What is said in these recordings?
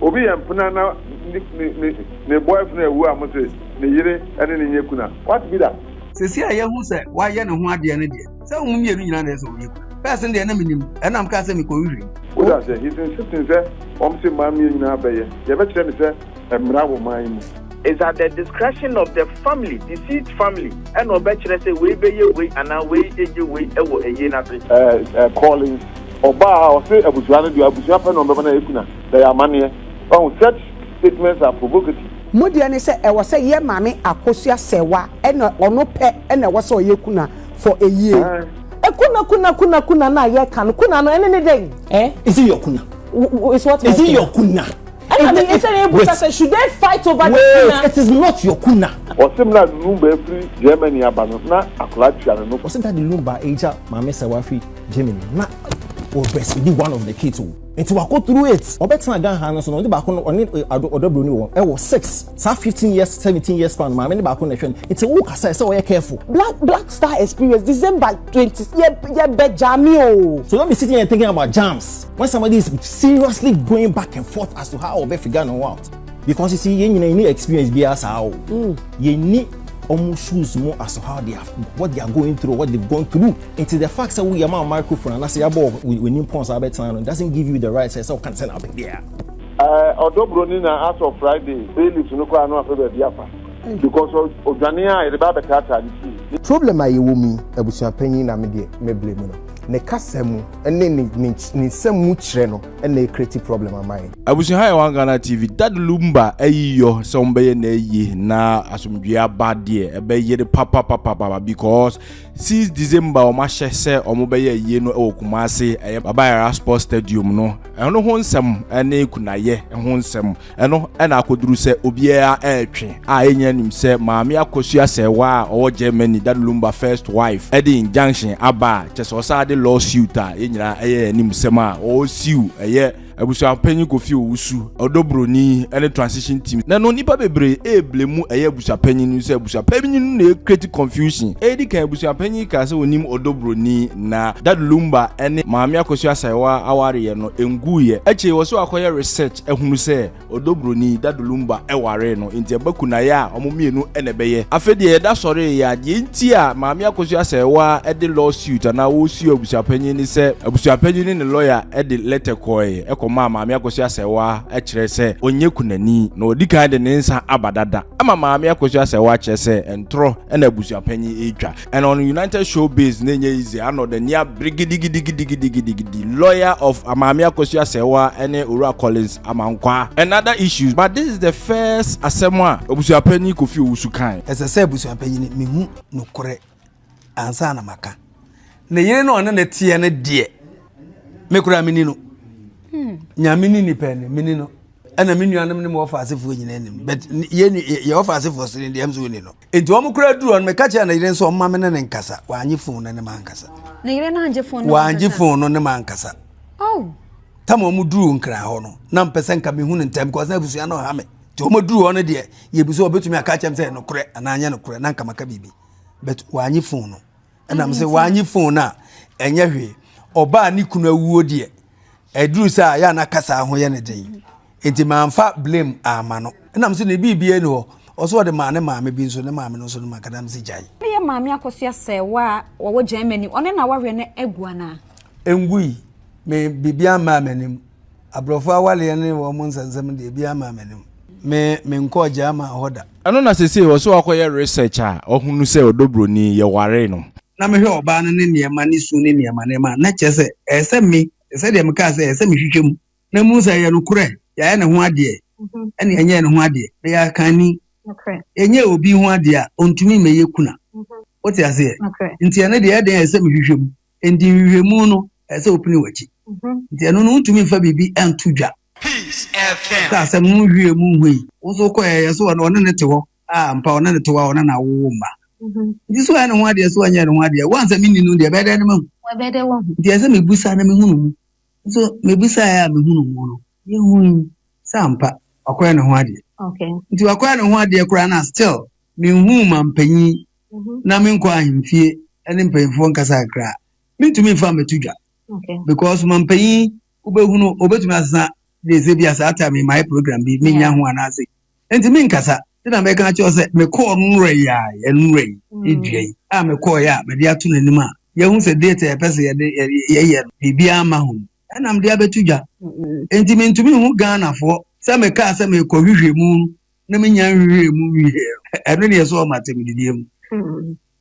Obi yɛ mpena na ne ne ne ne boyfriend awu a mose ne yere ne no nyɛ kuna what be that. Sesei a yahu sɛ wayɛ ne ho adeɛ no deɛ sɛ ɔmo mmienu nyinaa na ɛsɛ ɔmo yɛ kuna. First no deɛ na menim ɛna mekaa sɛ mekɔ nhwehwɛ mu. Wote aseɛ? He's insisting sɛ wɔn se mmaa mmienu nyinaa bɛyɛ. Yɛbɛkyerɛ no sɛ ɛmmra wɔ man yi mu. It's at the discretion of the family, deceased family, ɛna ɔbɛkyerɛ sɛ wei bɛyɛ wei anaa wei gye wei wɔ ayie no ase. Ɛɛ ɛɛ Collins Ɔbaa a ɔse abusua no deɛ abusua pɛ na wɔn bɛma no a ɛku na na ɛyɛ amaneɛ wahu such statements are provocative. Mo deɛ ne sɛ ɛwɔ sɛ yɛ maame akosua sɛwa ɛna ɔno pɛ ɛna ɛwɔ sɛ ɔyɛ kuna for a year. Eh kuna kuna kuna kuna no a yɛ ka no kuna no ɛne ne dɛn. Eh is it your kuna. Wo is what my kuna. Is it your kuna. Ɛna me ɛsɛ yɛ busa sɛ should they fight over the kuna. Wait it is not your kuna. Ɔse mmerɛ a Lumba firi Germany aba no na akwadaa tua no no. Ɔse daddy Lumba agya maame sɛwa firi. Germany na wɔ breastfeedi one of the kids o nti wakɔ through it ɔbɛtena Ghana ha no so na ɔde baako no ɔne eh, ɔdɔ buroni wɔ ɛwɔ six saa fifteen years seventeen years span maame ne baako na ɛhwɛ no nti wo kasa ɛsɛ ɔyɛ careful. Black Black Star Experience December twenty yɛ yɛ bɛ jami o. So don't be sitting here thinking about jams when somebody is seriously going back and forth as to how ɔbɛ figure no out because you see yɛn nyinaa yɛn ni experience biara saa o yɛn ni wɔn shoes mu as to how they are what they are going through what they have gone through. Nti the fact sɛ wo yɛ ma microphone anasɛ yabɔ wɔ w'anim pɔn saa bɛtena no doesn't give you the right sɛ sɛ wo ka sɛ na wopɛ biaa. Ɛɛ ɔdɔ broni na as of Friday playlist no koraa no apɛ baabi afa because odwane a yɛde ba abɛtaataa ne fie. Problem a yɛwɔ mu yi abusua panyin na me deɛ mɛ blame no. Ne kasa mu ne ne ne nsɛm mu kyerɛ no na ɛcreate problem ama yɛn. Abusua ha yɛ one Ghana TV Dad Lumba ayi yɔ sɛ ɔmbɛyɛ na ayi na asomdwie aba deɛ ɛbɛyere papapapapa because Since December a wɔahyɛ sɛ wɔbɛyɛ ayie no wɔ Kumase, ɛyɛ Baba Yara Sports Stadium no, ɛno ho nsɛm ne kunayɛ ho nsɛm no na akɔduru sɛ obiara retwe a yɛn nyinaa nim sɛ Maame Akwasu Asɛɛwa a ɔwɔ Germany, Daddy Lumba first wife, de injunction aba a kyerɛ sɛ ɔsan de law suit a yɛn nyinaa ɛyɛ yɛn anim sɛm a ɔresiw ɛyɛ Abusuapanyin Kofi Owusu, Ɔdɔbroni, ne Transition Team. Na no nnipa bebree reblɛ mu ɛyɛ abusuapanyin no sɛ abusuapanyin no na ɛrekreti confusion. Edi kan abusuapanyin yi kaa sɛ ɔnim Ɔdɔbroni na Dad Lumba ne Maame Akosua Sayewa awareɛ no ɛnguiɛ. Akyire yi ɔse wakɔyɛ research ahunu sɛ Ɔdɔ broni Daddy Lumba waree no enti ɛba kunayɛ a wɔn mmienu na ɛbɛyɛ. Afei deɛ yɛda sɔree yi ara, deɛ enti a Maame Akosua Asɛɛwaa de law suit anaa ɔresuo abusuapanyin ne sɛ abusuapanyin ne ne lɔya de lɛtɛ kɔɔe kɔmaa Maame Akosua Asɛɛwaa kyerɛ sɛ ɔnyɛ kunani na ɔdi kan de ne nsa aba dada ama Maame Akosua Asɛɛwaa kyerɛ sɛ ntorɔ na abusuapanyin retwa. And on United Showbiz ne nyɛ easy ano the nea brigidigidigidigidigidi lawyer of Amaame Akwasu Asɛewa ne Owura Collins Amankwaa and other issues but this is the first asɛm a Abusuapanyin Kofi Owusu kae. Ɛsɛ sɛ abusuapanyin no hu nokorɛ ansa na maka. Ne yere no a ɔne no teɛ no deɛ, me koraa menni no. Nyame ne nnipa anim, menni no. Ɛna me nuanom ne me wɔfa asefoɔ nyinaa nni no. But yɛn yɛn wɔfa asefoɔ so no deɛ, ɛm sɛ wɔnni no. Enti wɔn kura duru no, meka kyerɛ ne yere nso ɔmma me ne ne nkasa. Wanye fon no ne ma nkasa. Ne yere no angye fon no Wangye fon no ne ma nkasa. Oh. Tam wɔn duru nkran hɔ no, na mpɛ sɛ nka mehu no ntɛm because na abusua no ha me. Nti wɔn duru hɔ no deɛ, yɛbi so wɔbɛtumi aka akyɛm sɛ nokorɛ anaa nyɛ nokorɛ na nka maka biribi. But wanye fon no. ɛnam sɛ wɔanye fon no a ɛnyɛ hwee ɔbaa ne kunu awuo deɛ ɛduru sɛ a yɛ ana kasa ho yɛ ne den nti manfa blame ama no ɛnam sɛ ne biribiara ni hɔ ɔsɛ ɔde maa ne maame bi nso ne maame no nso no makadam sɛ gyae ne yɛ maame akɔso asɛ wa a wɔwɔ germany ɔne na wawerɛ no agu anaa ɛngui me biribiara mmaa m'anim Aborɔfo awareɛ ne wɔn nsɛnsɛm deɛ ebiara mmaa m'anim. Me, menkɔɔ German hɔ da. Ɛno na seesei ɔse wakɔyɛ research a wahunu sɛ ɔdɔ buroni, yɛwaree no. Na mehwɛ ɔbaa no ne nneɛma, ne su ne nneɛma nneɛma a, na kyerɛ sɛ ɛyɛ sɛ me, te sɛ deɛ mekaa sɛ ɛyɛ sɛ mehwehwɛ mu na mehu sɛ ɛyɛ nokorɛ, yɛayɛ ne ho adeɛ ɛnna yɛnyɛɛ ne ho adeɛ, meyɛ akanni. Yɛnyɛɛ obi ho adeɛ a, ɔntumi mmɛyɛ kuna. Wote aseɛ? Nti ɛno deɛ, ɛyɛ dɛn a ɛsɛ sɛ mehwehwɛ mu? Enti nhwehwɛmu no, ɛsɛ sɛ wopene w'akyi. Enti ɛno no, wontumi mfa biribi nto dwa. Sɛ asɛm no nhwiee mu hui. Wo nso wokɔe a, yɛ so ɔne ɔne no te hɔ a, ampa, ɔne no te hɔ a, ɔno na awo wo mma. Enti so wayɛ ne ho adeɛ, so wanyɛ ne ho adeɛ? Wo a ansa menni no deɛ, ɛbɛyɛ dɛn na mahu? Enti ɛsɛ sɛ mebisa na mehunu mu. Nso mebisaeɛ a mehunu mu no, yɛhui sɛ ampa, wakɔyɛ ne ho adeɛ. Enti wakɔyɛ ne ho adeɛ koraa no a, still menhuu mampanyin na me nkɔ ahemfie ne mpanyinfoɔ nkasa kakra mentumi mfa mɛto dwa because mampanyin wobɛhunu obɛtumi asesa de ɛsɛ bi a saa time yi mayɛ program bi menya ho anaase nti menkasa nti na mɛka kyerɛ sɛ mekɔɔ nwerɛ yi a ɛnwerɛ yi ɛdua yi a mekɔɔ yɛ a mede ato n'anim a yɛhu sɛ date a yɛpɛ sɛ yɛde yɛyɛ no biribiara ma ho ɛnam de abɛto dwa nti mentumi hu Ghanafoɔ sɛ mekaa sɛ mekɔ hwehwɛ mu na me nya nhwehwɛɛ mu nwie no, ɛno deɛ ɛsɔɔ m'atɛmdideɛ mu,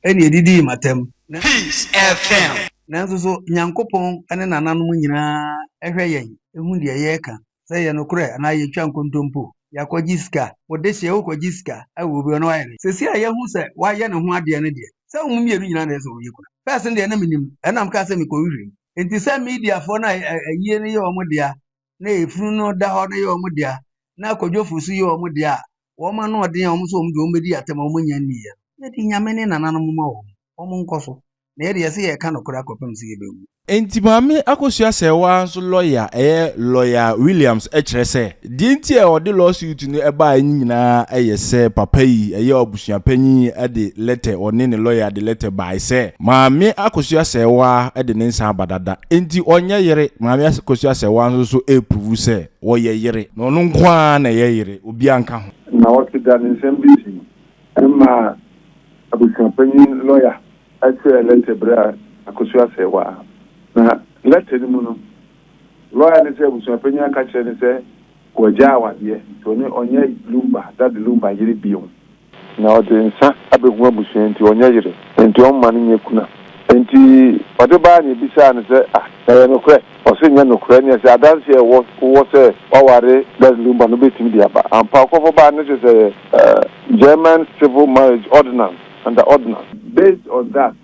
ɛnna ɛdidii m'atɛm. Peace FM. Nanso so Nyankopɔn ne nananom nyinaa hwɛ yɛn, hu deɛ yɛka, sɛ ɛyɛ nokorɛ anaa yɛtwa nkontompo, yɛakɔgye sika, wo de hyɛ, wokɔgye sika wɔ obi hɔ na wayɛ no, seesei a yɛahu sɛ wayɛ ne ho adeɛ no deɛ, sɛ wɔn mmienu nyinaa na ɛsɛ sɛ wɔyɛ kunu a, pɛs no deɛ na mennim, ɛnna mekaa sɛ mekɔhwehwɛ mu, enti sɛ mediafoɔ no a ayie no yɛ wɔn dea na efunu no da hɔ no yɛ wɔn dea, na akwadwofo nso yɛ wɔn dea a, wɔn ano ɔden a wɔn nso wɔn de wɔn bedi atɛm a wɔn nya nni yɛ no, yɛde Nyame ne nananom mma wɔn. Wɔn nkɔ so. Na yɛde yɛse yɛreka nokorɛ akɔpem sɛ yɛbɛwu. Enti Maame Akosua Serwaa nso lɔya a ɛyɛ Lɔya Williams kyerɛ sɛ, deɛ nti a ɔde lawsuit no baeɛ no nyinaa yɛ sɛ papa yi yɛ Suapanyin yi de lɛtɛ, ɔne ne lɔya de lɛtɛ bae sɛ, Maame Akosua Asɛewaa de ne nsa aba dada, enti ɔnyɛ yere. Maame Akosua Asɛewaa nso so repuruvu sɛ ɔyɛ yere, na ɔno nko ara na ɛyɛ yere, obiara nka ho. Nnawɔtwe da ne nsɛm di akyi no, ɛma abusuapanyin lɔya kyerɛɛ lɛtɛ brɛɛ Akosua Asɛewaa. Na lɛtɛ no mu no, lɔya no sɛ abusuapanyin aka akyerɛ no sɛ Wɔagyaa awadeɛ nti ɔne ɔnyɛ Lumba, Daddy Lumba, yere bio. Na ɔde nsa abɛhu abusua nti ɔnyɛ yere, nti ɔmma no nyɛ kuna. Nti ɔde baeɛ na yɛbisaa no sɛ, ah, na ɛyɛ nokorɛ? Ɔse ɛnyɛ nokorɛ, ɛneɛ sɛ adanseɛ a ɛwɔ wowɔ sɛ woaware Daddy Lumba no wobɛtumi de aba ampa? Ɔkɔfɔ baeɛ no kyerɛ sɛ ɛyɛ German Civil Marriage Ordinance, under Ordinance. Based on that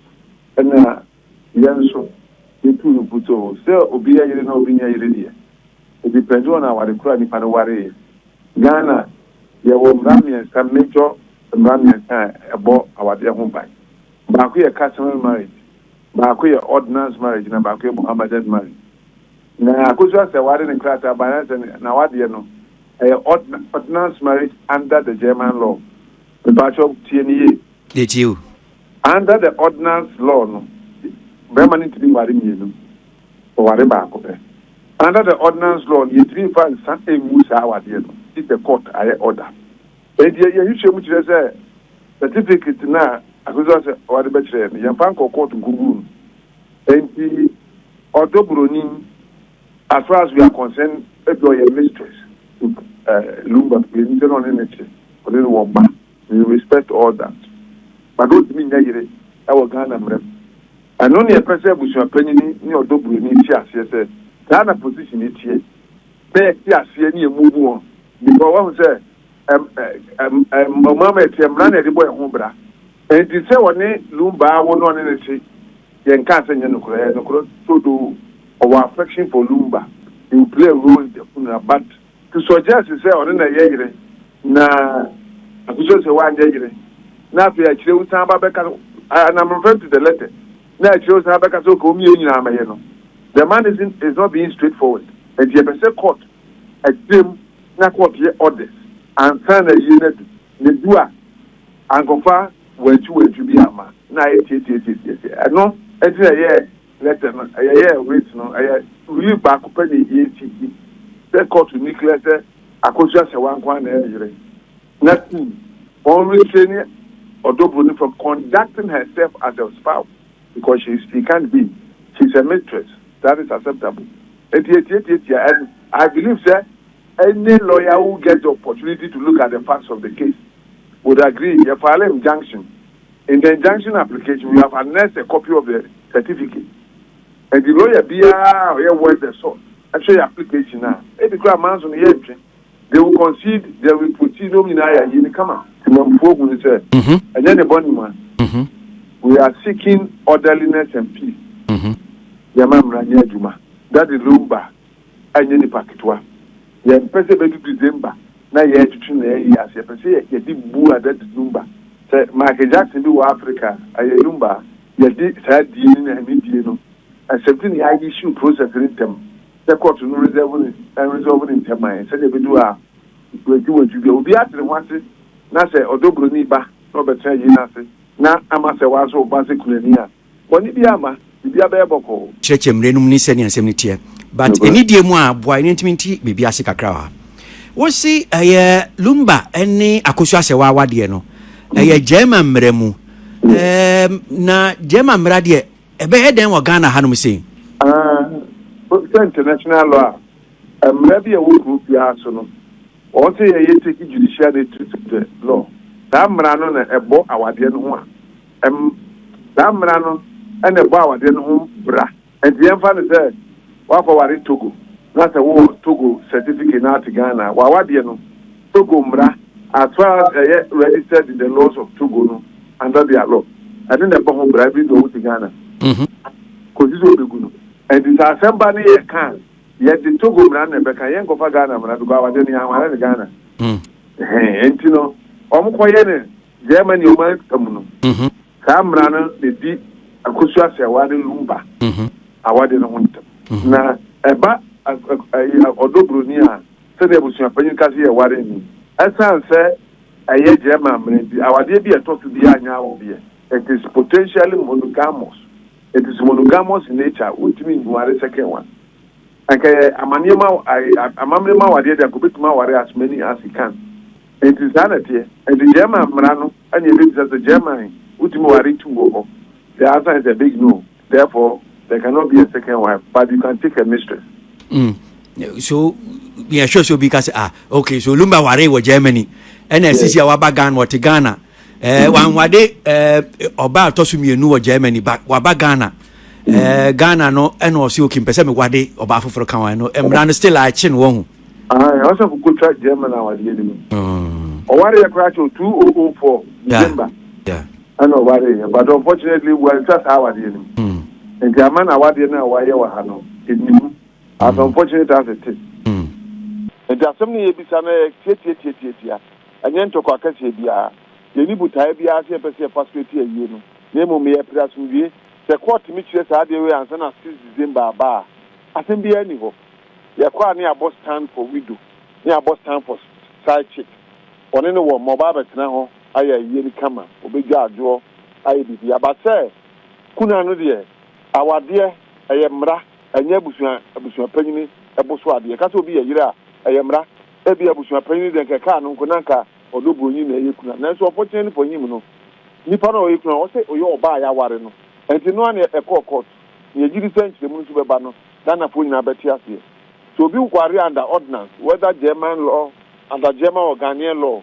ɛna Yɛn nso, yetu no putoo sɛ obi yɛ yere na obi nyɛ yere deɛ, it depends on aware koro a nipa no wareeɛ. Ghana, yɛwɔ mmara mmiɛnsa, major mmara mmiɛnsa a ɛbɔ awadeɛ ho ban. Baako yɛ customary marriage, baako yɛ ordinance marriage na baako yɛ Mohammedan marriage. Na Akosua Seware ne krataa baeɛ ara sɛ n'awadeɛ no, ɛyɛ ordinance marriage under the German law. Mpakyɛw, tie no yie. Yɛtie wo. Under the Ordinance Law no, barima no ntumi nware mmienu, ɔware baako pɛ. Under the Ordinance Law no, yɛntumi mfa nsa mmu saa awadeɛ no if the court ayɛ order. Enti yɛn nhwehwɛ mu kyerɛ sɛ certificate no a Akosua sɛ ɔde bɛkyerɛɛ no, yɛmfa nkɔ court nkɔguu no. Enti ɔdɔ buroni, as far as we are concerned, ebi ɔyɛ mistress to Lumba, enti na ɔne no te, ɔne no wɔ mma. We respect all that but wontumi nyɛ yere wɔ Ghana mmara mu. Ɛno ne ɛpɛ sɛ abusua panyini ne ɔdɔ buroni te aseɛ sɛ saa na position yi teɛ na yɛte aseɛ ne yɛ move on because wahu sɛ mmara mu ɛteɛ mmara na yɛde bɔ yɛn ho bra nti sɛ ɔne Lumba awo na ɔne no te yɛ nkaa sɛ nyɛ nokorɛ ɛyɛ nokorɛ trodoo ɔwɔ affection for Lumba he will play a role in the funeral but Nso ɔgye ase sɛ ɔno na ɛyɛ yere, na akosi ɔsɛ wanyɛ yere, na afei akyire wo san ba bɛka sɛ, I and am referring to the letter, na akyire wo san bɛka sɛ okay wɔn mmienu nyinaa mɛyɛ no, the man isn't is not being straight forward, nti yɛpɛ sɛ court akyire mu na court yɛ orders ansa na ayie no adu, na ɛdu a ankɔfa wantwi wantwi bi amma na ayɛ tiatiatiatiatia, ɛno nti na ɛyɛ. Lɛtɛ no yɛyɛɛ writ no yɛ writ baako pɛ na yɛsi gye sɛ kɔɔto nni klɛ sɛ Akosua Asɛwa nko ara na ɛyɛ ne yere. Na tuu wɔn restraining ɔdɔ buroni from conducting herself as a spouse because she is she can't be she is a mistress that is acceptable nti yɛtiatiatia ɛno. I believe sɛ any lawyer who get the opportunity to look at the facts of the case would agree yɛfile injunction. In the injunction application, we have annexed a copy of the certificate. Ɛnti lawyer biara a ɔyɛ worth the salt ɛhwɛ yɛ application a, ebi koraa manso no yɛntwe. They will concede, then we proceed, na wɔn nyinaa ayɛ ayie no kama. Temammufoɔ hu no sɛ ɛnyɛ ne bɔne ma. We are seeking orderliness and peace. Yɛma mmara nyɛ adwuma. Daddy Lumba, ɛnyɛ nnipa ketewa. Yɛmpɛ sɛ ɛbɛdu December na yɛretwetwe na yɛayi ase. Yɛpɛ sɛ yɛde Bu Ada di Number. Sɛ Michael Jackson bi wɔ Africa a, ɛyɛ Number a yɛde saa die no na ɛne die no accept ne yɛayɛ issue process no ntɛm sɛ kɔɔto no reserve no ɛnreserve no ntɛm ma yɛn sɛdeɛ ɛbɛdu a wantwi wantwi biara obiara te ne ho ase na sɛ ɔdɔ buroni ba na ɔbɛtena yei no ase na ama sɛ woasɔ wo ba sɛ kunani a Bɔne biaa mma, biribiaa bɛyɛ bɔkɔɔ. Kyerɛkyerɛ mmerɛ nom ne sɛdeɛ nsɛm no teɛ but anidie mu a boa yɛn ntumi nte biribi ase kakra wɔ ha. Wose ɛyɛ lumba ne akosu asɛwa awadeɛ no ɛyɛ German mmara mu eem na German mmara deɛ ɛbɛyɛ dɛn wɔ Ghana hanom sei? Aah wote sɛ international law a mmara bi a ɛwɔ kuro biara so no wɔn se yɛyɛ take judicial nature to the law saa mmara no na ɛbɔ awadeɛ no ho a Ɛm, saa mmara no na ɛbɔ awadeɛ no ho bra. Ɛnti yɛmfa no sɛ woakɔ ware Togo na sɛ wowɔ Togo certificate na wote Ghana a, w'awadeɛ no, Togo mmara, as far as ɛyɛ registered in the laws of Togo no, under their law, ɛno na ɛbɔ ho bra even though wote Ghana kɔsi sɛ wɔbɛgu no. Ɛnti sɛ asɛm ba ne yɛreka a, yɛde Togo mmara no na ɛbɛka, yɛnkɔfa Ghana mmara because awadeɛ no yɛanware no Ghana. Ɛhɛn, ɛnti no wɔkɔyɛ no. Germany ɔman fa mu no, saa mmara no na ɛdi Akosua Asɛewa ne Lumba awade no ho ntam. Na ɛba ɔdɔ buroni a, sɛdeɛ abusuapanyin ka sɛ yɛware nni. Ɛsiane sɛ ɛyɛ German mmara nti, awadeɛ bi a ɛtɔ so biara nyɛ awodeɛ. It is potentially monogamous. It is monogamous in nature. Wontumi nware second one. Anka ɛyɛ amammerɛ mu awadeɛ deɛ, anka obetumi aware as many as he can. Enti saa na ɛteɛ. Enti German mmara no na yɛbɛbisa sɛ German wotumi ware two wɔ hɔ? The answer is a big no, therefore there cannot be a second wife but you can take a mistress. Mm, so yɛ sure sɛ obi ka sɛ ah okay so Lumba waree wɔ Germany ɛna asisi a waba Ghana wɔte Ghana ɛɛ eh, wanwade ɛɛ ɔbaa eh, atɔ so mmienu wɔ Germany ba waba Ghana. Eh, Ghana no ɛna ɔsi oke mpɛ sɛ mewade ɔbaa foforɔ ka wɔn no mmara no still akye no wɔn ho. Aane ɔsɔfo kotwa German awadeɛ no mu. Ɔwareɛ koraa kyɛw 2004 December ɛna ɔwareeɛ but unfortunately wantwa saa awadeɛ no mu nti ama no awadeɛ no a wayɛ wɔ ha no ɛnni mu as unfortunate as it is. Nti asɛm no a yɛbisa no yɛ tiatiatiatiatia ɛnyɛ ntɔkwa akɛseɛ biara. Yɛnni botaeɛ biara sɛ yɛpɛ sɛ yɛfa so ɛti ayie no na mmom yɛpere asomdwie. Sɛ court tumi kyerɛ saa adeɛ wei ansa na 6 December aba a asɛm biara nni hɔ. Yɛ kɔ a ne yɛabɔ stand for widow ne yɛabɔ stand for side chick ɔne ne wɔ mma ɔba abɛtena hɔ ayɛ ayie no kama ɔbɛdwa adwoɔ ayɛ biribiara but sɛ kunu ano deɛ awadeɛ ɛyɛ mmara ɛnyɛ abusua abusua panyini ɛbo so adeɛ yɛka sɛ obi yɛ yere a ɛyɛ mmara ebia abusua panyini deɛ nka ɛkaa no nko na nka ɔdɔ buroni na ɛyɛ kunu a nanso unfortunately for him no nipa no a ɔyɛ kunu a ɔsɛ ɔyɛ ɔbaa a yɛaware no ɛnti no a na ɛkɔɔ court na yɛgye di sɛ nkyerɛmu no nso bɛba no Ghanafoɔ nyinaa bɛte aseɛ. Sɛ obi ware under ordinance, whether German law, under German or Ghanaian law,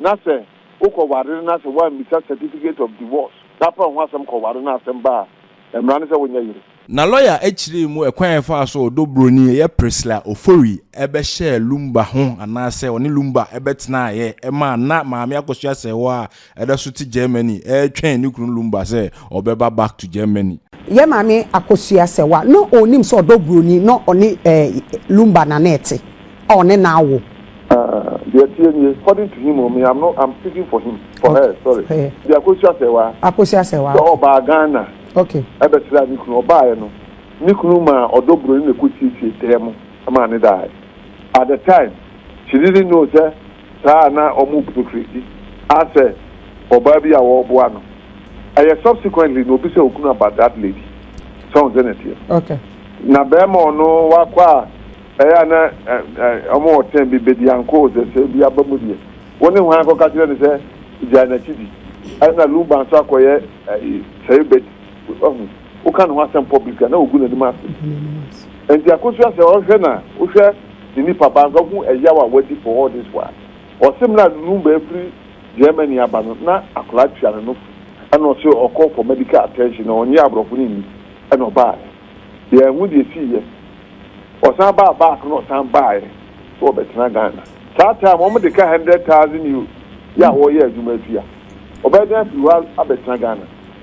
na sɛ wokɔ ware no na sɛ woammisa certificate of divorce na apɛ ho asɛm kɔ ware na asɛm ba a, mmara ne sɛ wonyɛ yere. Na lɔya kyerɛɛ mu ɛkwan a ɛfaa so a ɔdɔ buroni a ɛyɛ Priscilla Ofori bɛhyɛɛ Lumba ho anaasɛ ɔne Lumba bɛtenaeɛ maa na Maame Akosua sɛe hɔ a Ɛda so te Germany ɛretwɛn ne kunu Lumba sɛ ɔbɛba back to Germany. Yɛ maame akosua sɛ wa na ɔnim sɛ ɔdɔ broni na ɔne eh Lumba na na ɛte a ɔne na awo. Ah deɛ ɛteɛ nie cording to him o me am no am speaking for him for her sorry Okay. deɛ akosua sɛ wa Akosua sɛ wa sɛ okay ɔbaa Ghana okay. ɛbɛsraa ne kunu ɔbaaɛ no ne kunu maa ɔdɔ broni na ɛkɔ siesie dɛɛ mo maa ne daaɛ at the time she didn't know sɛ saa a na ɔmo bu Christy asɛ ɔbaa bi a ɔɔboa no. Ɛyɛ subsequently na obisa okunu about that lady. So wohu sɛnea ɛteɛ? Okay. Na bɛɛma ɔno wakɔ a ɛyɛ a na ɔmo wɔ term bi, Bedianko ɔsɛ sɛ bi aba mu deɛ wo ne hwan kɔka kyerɛ no sɛ gyae n'akyi di. Ɛna Lumba nso akɔyɛ sɛe Betty. Wahu? woka ne ho asɛm pɔ bere bi a, na ogu n'anim ase. Enti akosua sɛ ɔhwɛ no a, wohwɛ ne nipa ba nso a, wohu ɛyaw a wadi for all this while. Ɔse mmerɛ a ne num baa firi Germany aba no, na akwadaa tua ne nofo, ɛna ɔse ɔkɔ for medical attention na ɔnnye aborɔfo no nni, ɛna ɔbaaɛ. Yɛanhu deɛ ɛsiiɛ. Ɔsan baa back na ɔsan baaɛ sɛ ɔbɛtena Ghana. Saa time wɔn de ka hundred thousand Euros yɛ a wɔreyɛ adwuma atua. Ɔbɛyɛ dɛn afiri hɔ abɛtena Ghana?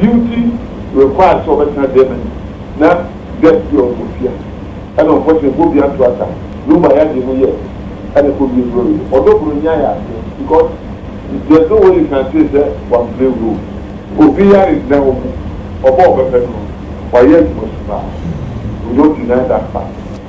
Beauty required sɛ ɔbɛtena Germany na Gert deɛ ɔde ofia ɛna unfortunately ɛbɔ bia nto asa no ma yɛagye no yɛ ɛna ɛkɔ wie Brori no ɔdɔ bro nnya yɛ adeɛ because there's no way you can say sɛ wan play role. Obi yare nnɛ wo ho ɔba a ɔbɛpɛ no no wayɛ adwuma su paa we don't deny that fact.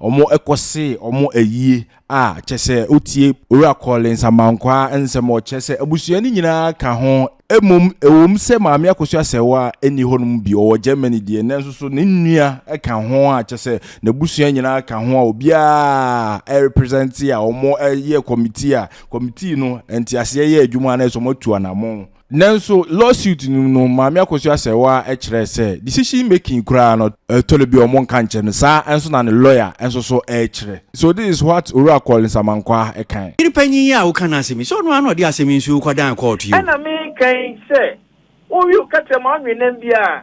Wɔkɔsee wɔn ayie a kyerɛ sɛ wotie Owura Collins Amankwaa nsɛm a ɔkyerɛ sɛ abusua no nyinaa ka ho. Mmom ɛwom sɛ Maame Akosua Asɛwaa nni hɔ nom bio, ɔwɔ Germany deɛ, nanso so ne nua ka ho a kyerɛ sɛ n'abusua nyinaa ka ho a obiara represent a wɔyɛɛ committee a committee no nteaseɛ yɛɛ adwuma anaasɛ wɔatu anammɔn. Nanso, lawsuit no mu no, Maame Akosua Serwaa kyerɛe sɛ decision making koraa no, ɛtɔ da bi a wɔnka nkyerɛ no, saa ara nso na ne lawyer nso so kyerɛ. So this is what Owura Collins Amankwah kae. Yere panyin yi a woka n'asɛm yi, sɛ ɔno ara na ɔde asɛm yi nso kɔdan kɔɔto yi o. Ɛna meka yi sɛ, Wo we wo kɛtrɛma ɔnwennam biara,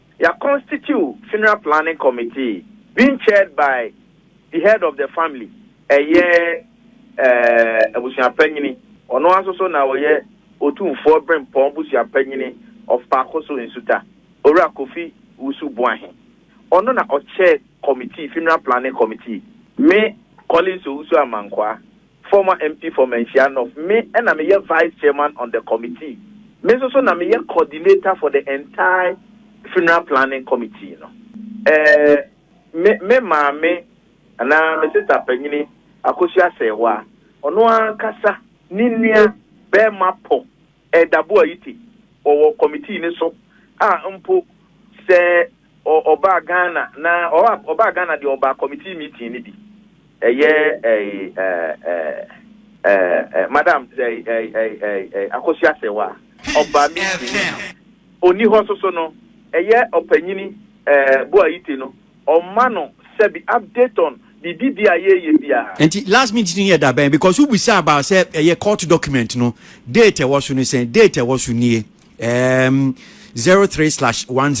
Yea constitute funeral planning committee being chaired by the head of the family, ɛyɛ eh abusua panyini, ɔno ara nso so na ɔyɛ Otumfoɔ Berempɔn busua panyini of Paakoso Nsuta, Owura Kofi Wusu Boahe. Ɔno na ɔchair committee, funeral planning committee. Me Collins Owusu Amankwaa. Former MP for Manhyia North, Me na meyɛ Vice Chairman on the committee. Me nso so na meyɛ coordinator for the entire Funeral Planning Committee no. Eh, me me maame anaa me sista panyini Akosua Asɛɛwa, ɔno ankasa ne nua barima pɔ Ɛɛdabo Ayite, ɔwɔ committee no so a mpo sɛ Ɔ ɔbaa Ghana na ɔ ɔbaa Ghana deɛ ɔbaa committee meeting no bi. Ɛyɛ ɛyi ɛ ɛ ɛ ɛ madam ɛ ɛ ɛ ɛ ɛ Akosua Asɛwa ɔbaa meeting no bi. Ɔnni hɔ soso no ɛyɛ ɔpanyini ɛ Boayite no ɔma no sɛbi update on biribi bi a yɛɛyɛ biara. Nti last meeting no yɛ da bɛn because wo bisa about sɛ ɛyɛ court document no date ɛwɔ so no sɛn date ɛwɔ so nie. um, 03 slash 10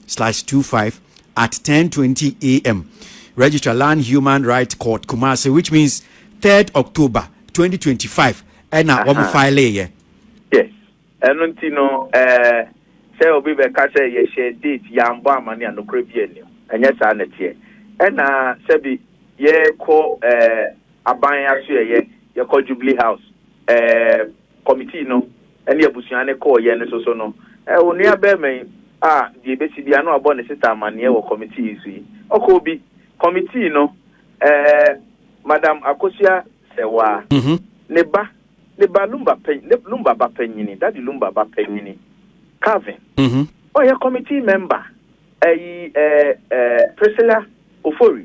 slash 25 at 10.20 a.m. Registrar Land Human Rights Court Kumasi, which means 3rd October 2025. And I want to file it. Yes. ɛno nti no eh, sɛ obi bɛka sɛ yɛhyɛ date yɛambɔ amane a nokorɛ bi anim ɛnyɛ saa na ɛteɛ ɛna sɛbi yɛkɔ eh, aban aso yɛyɛ yɛkɔ jubilee house eh, Kɔmitii no ne abusua no kɔɔ yɛn nso so no, onua barima yi a deɛ ɛbɛsi biara na wabɔ ne sista amanneɛ wɔ kɔmitii yi so yi, ɔkɔɔ bi. Kɔmitii no, ɛɛ, Madam Akosua Sewaa, ne ba, ne ba Lumba pa, ne Lumba ba panyini, Daddy Lumba ba panyini, Calvin, ɔyɛ kɔmitii mɛmba, ɛyi, ɛɛ, ɛɛ, Priscilla Ofori,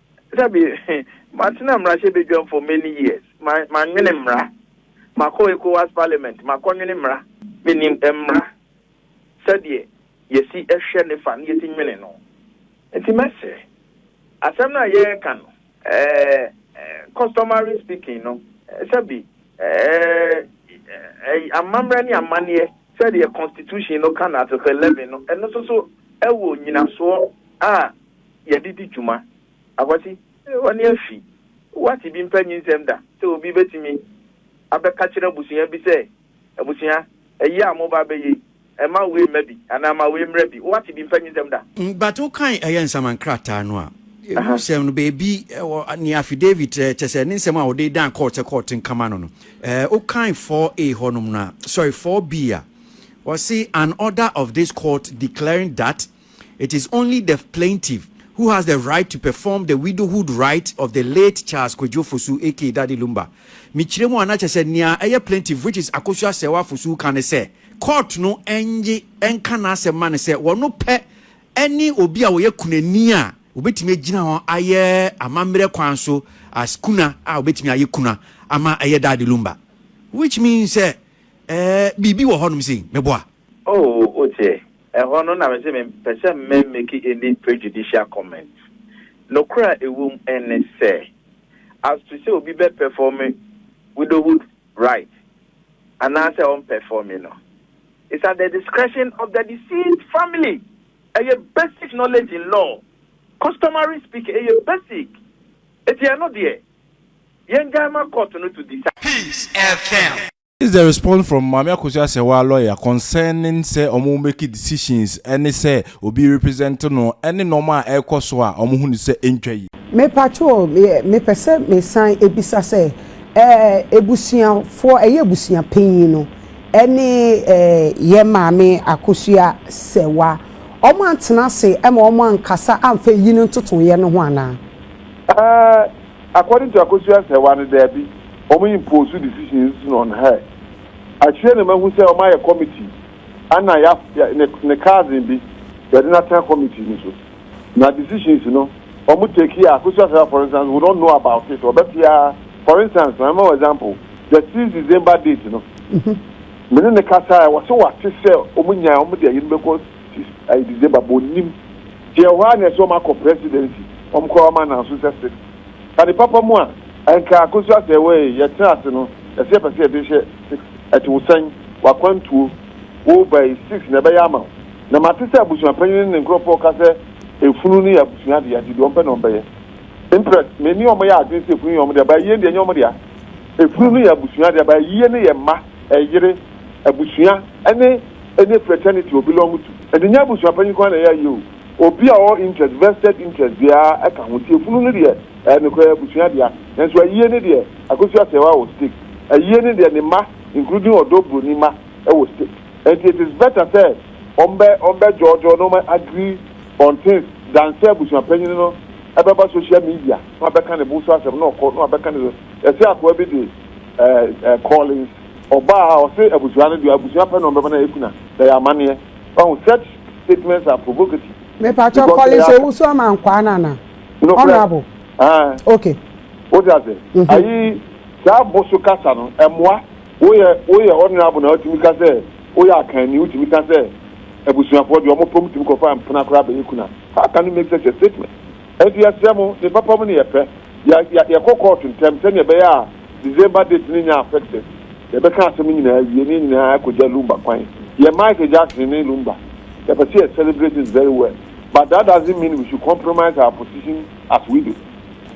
Dabi, matena mmarahyɛbadwam for many years, mannwene mmara. Makɔ Ecowas Parliament, makɔnwene mmara. Menim mmara sɛdeɛ yɛsi hwɛ ne fa na yɛsi nwene no. Nti mɛsrɛ, asɛm no a yɛreka no, customary speaking no, sɛbi amammerɛ ne amanneɛ sɛdeɛ Constitution no ka no, Article 11 no, ɛno nso so wɔ nyinasoɔ a, yɛde di dwuma. Akwasi, w'ani afi? Woate bi mpa nyinsɛm da sɛ obi betumi abɛkakyerɛ abusua bi sɛ, Abusua, ayi a moba abɛyɛ yi, mma wei mma bi anaa ma wei mmra bi? Woate bi mpa nyinsɛm da? But wokan ɛyɛ nsaman krataa no a, ɛmu sɛm no, baabi wɔ nea affidavit, kyerɛ sɛ ne nsɛm a wɔde dan kɔɔt sɛ kɔɔt nka ma no no, wokan 4A hɔnom no a, sorry, 4B a, wɔse, An order of this court declaring that, It is only the plaintiff who has the right to perform the widowhood rites of the late Charles Kwadwo Fosu aka Daddy Lumba. Mekyerɛ mu a na kyerɛ sɛ nea ɛyɛ plaintiff which is Akosua Serwaa Fosu ka ne sɛ court no nnye nka n'asɛm ma no sɛ wɔno pɛ ne obi a ɔyɛ kunani a obetumi agyina hɔ ayɛ amammerɛ kwan so as kuna a obetumi ayɛ kuna ama ɛyɛ Daddy Lumba. Which means sɛ ɛɛ biribi wɔ hɔnom sei. Meboa? Oh wotie, ɛhɔ no na mese mempɛ sɛ mɛ make any prejudicial comments. Nokorɛ a ɛwom ne sɛ, as to sɛ obi bɛ performe widowhood rite anaasɛ ɔmpɛfɔme no, it's at the discretion of the deceased family. Ɛyɛ basic knowledge in law, customary speaking, ɛyɛ basic. Enti ɛno deɛ, yɛngyae ma court no to decide. Peace FM. Is the response from Maame Akosua Serwaa lawyer concerning sɛ ɔmo make decisions ɛne sɛ obi represent no ɛne nnoɔma a ɛrekɔ so a ɔmo hu no sɛ ɛntwa yie. Me pacho me pɛ sɛ me san bisa sɛ eh abusua foɔ ɛyɛ abusua panyin no ɛne eh yɛ maame akosua sɛwa ɔmo antena ase ɛma ɔmo ankasa amfa eyi no ntotoeɛ no ho anaa. Eh According to Akosua Serwaa no daabi, wɔn impose decisions no on her. Akyire na mahu sɛ wɔn ayɛ committee ɛna ya ya ne ne cousin bi yɛde no atena committee no so. Na decisions no wɔn take a Akosua Serwaa for instance would not know about it ɔbɛte ara for instance ma mɛma wo example the six December date no me ne no kasaɛ ɔse wate sɛ wɔn nyan wɔn de ayi no bɛkɔ This ayɛ December but ɔnnim nti ɛwɔ hɔ ara na ɛsɛ wɔn akɔ presidency wɔn kɔ wɔn ananso sɛ six ka ne papa mu a ɛnka akosu asɛ wɔ ee yɛ tena ase no ɛsɛ yɛpɛ sɛ yɛde hyɛ six ɛte wo sɛn wakwantuo wo ba yi six na ɛbɛyɛ ama wo na mate sɛ abusuapanyin ne nkorɔfoɔ ka sɛ efunu no yɛ abusua adea nti deɛ wɔn pɛ na wɔn bɛyɛ impress me ne wɔn yɛ adwene sɛ efunu yɛ wɔn dea ba ayie deɛ nyɛ wɔn dea efunu no yɛ abusua adea ba ayie no yɛ mma ɛyere abusua ɛne. ɛne fraternity or belong to. Ɛnde nyɛ abusua panyin nko ara na ɛyɛ ayie o, obi a ɔwɔ interest, vested interest, biara ka ho. Nti efunu no deɛ, ɛyɛ nokorɛ, abusua dea. Nanso ayie no deɛ, Akosua Asɛɛwa wɔ stake. Ayie no deɛ, ne mma, including Ɔdɔ Buroni mma, wɔ stake. Ɛnti it is better sɛ wɔbɛ, wɔbɛ dwɔɔdwɔɔ na wɔn agree on things than sɛ abusua panyin no bɛba social media na wabɛka ne bo so asɛm na ɔkɔ na wabɛka ne so. Yɛse akoa bi de ɛɛ, ɛɛ, Collins. Ɔbaa a ɔse abusua no deɛ abusua pɛ na ɔbɛma no ayɛ kuna na ɛyɛ amaneɛ wahu such statements are provocative Mepakyɛw because Collins ɛyɛ asɛm Owusu ama nkwaa no anaa? Nokorɛ Honourable aah ok wote aseɛ mhm. ayi saa bo so kasa no ɛmoa woyɛ woyɛ honourable na wotumi ka sɛ woyɛ akanni wotumi ka sɛ abusuafoɔ deɛ wɔpɛ wɔtumi kɔfa mpena koraa bɛyɛ kuna how can you make such a statement? Enti yɛsrɛ mo, ne papa mu ne yɛ pɛ, yɛ yɛ yɛ kɔ kɔɔto ntɛm sɛnea ɛbɛyɛ a December date no nya affected, yɛ bɛka asɛm no nyinaa awie ne yɛn nyinaa akɔ gya Lumba kwan, yɛ Michael Jackson ne Lumba, yɛ pɛ sɛ yɛ celebrate it very well but that doesn't mean we should compromise our position as widow.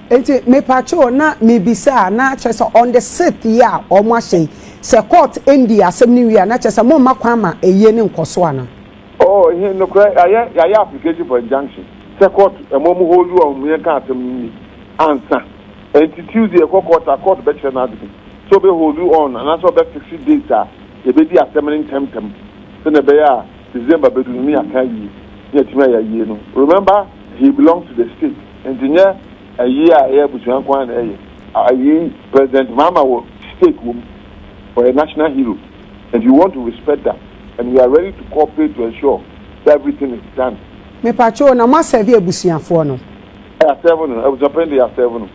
Enti mepakyɛw na mebisa a na kyerɛ sɛ on the sixth yi a wɔn ahyɛ yi sɛ court ndi asɛm no wie a na kyerɛ sɛ mo mma kwan ma ayie no nkɔ so anaa? Oh ehe nokorɛ yayɛ yayɛ application for injunction sɛ court ɛma ɔmo hold wo a ɔmo yɛnka asɛm no nwie ansa ɛnti Tuesday yɛkɔ court a court bɛkyerɛ no adwene sɛ ɔbɛ hold wo on anaasɛ ɔbɛ fixe date a yɛbɛdi asɛm no ntɛm ntɛm sɛnea ɛbɛyɛ a December bɛdu no ne yɛaka awie ne yɛatumi ayɛ ayie no remember he belongs to the state ɛnti nyɛ ayie a ɛyɛ abusua nko ara na ɛyɛ ayie President Mahama wɔ stake wɔ mu ɔyɛ national hero and you want to respect that. and we are ready to cooperate to ensure sɛ everything is done. Mepatwoo na mo asɛve abusuafoɔ no. Yɛ asɛve no, abusuapanin de yɛ asɛve no.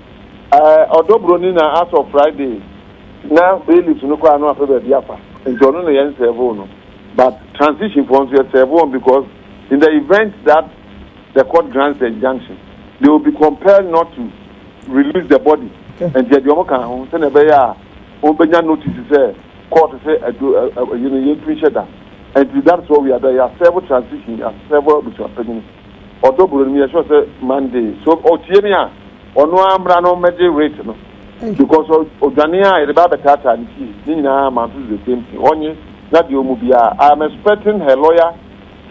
Ɛɛ ɔdɔ broni na as of Friday na bailiffs no koraa no apɛ baabi afa nti ɔno na yɛn sɛvoo no but transition foɔ nso yɛ sɛve wɔn because in the event that the court grants the injunction they will be compelled not to release the body nti yɛde wɔn kaa ho sɛnea ɛbɛyɛ a Wobenya notice sɛ court sɛ adu eyi no yɛntu nhyɛ da nti that is what we are done yɛ serve transition yɛ serve abusua panyin ɔdɔ bro no meyɛ sure sɛ Monday so ɔtie me a ɔno ara mmra no mmɛgye rate no because ɔdwane a yɛde ba abɛtaataa ne fie ne nyinaa ma nso the same thing ɔnye na deɛ ɔmu biara I am expecting her lawyer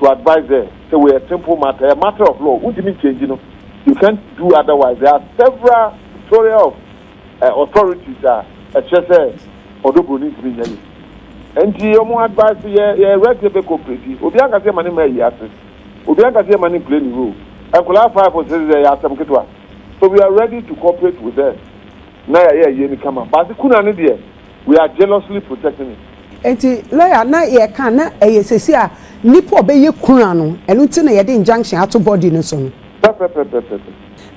to advise her sɛ wei yɛ simple matter ɛyɛ matter of law wontumi nkyɛngyi no you can't do otherwise there are several tutorial of eh authorities a ɛkyerɛ sɛ ɔdɔ broni ntumi nyɛ yɛ ɛnti ɔmo advice yɛ yɛ rest yɛ bɛ cooperate obiara nka sɛ yɛma ne mma ayi ase obiara nka sɛ yɛma ne play ne role nkwadaa five o sɛ yɛ asɛm ketewa so we are ready to cooperate with them na yɛayɛ ayie no kama but kuna no deɛ we are jealously protecting it. Nti lawyer na yɛka na ɛyɛ sɛsi a nipa ɔbɛyɛ kuna no ɛno nti na yɛde injunction ato body no so no. Pɛpɛpɛpɛpɛ.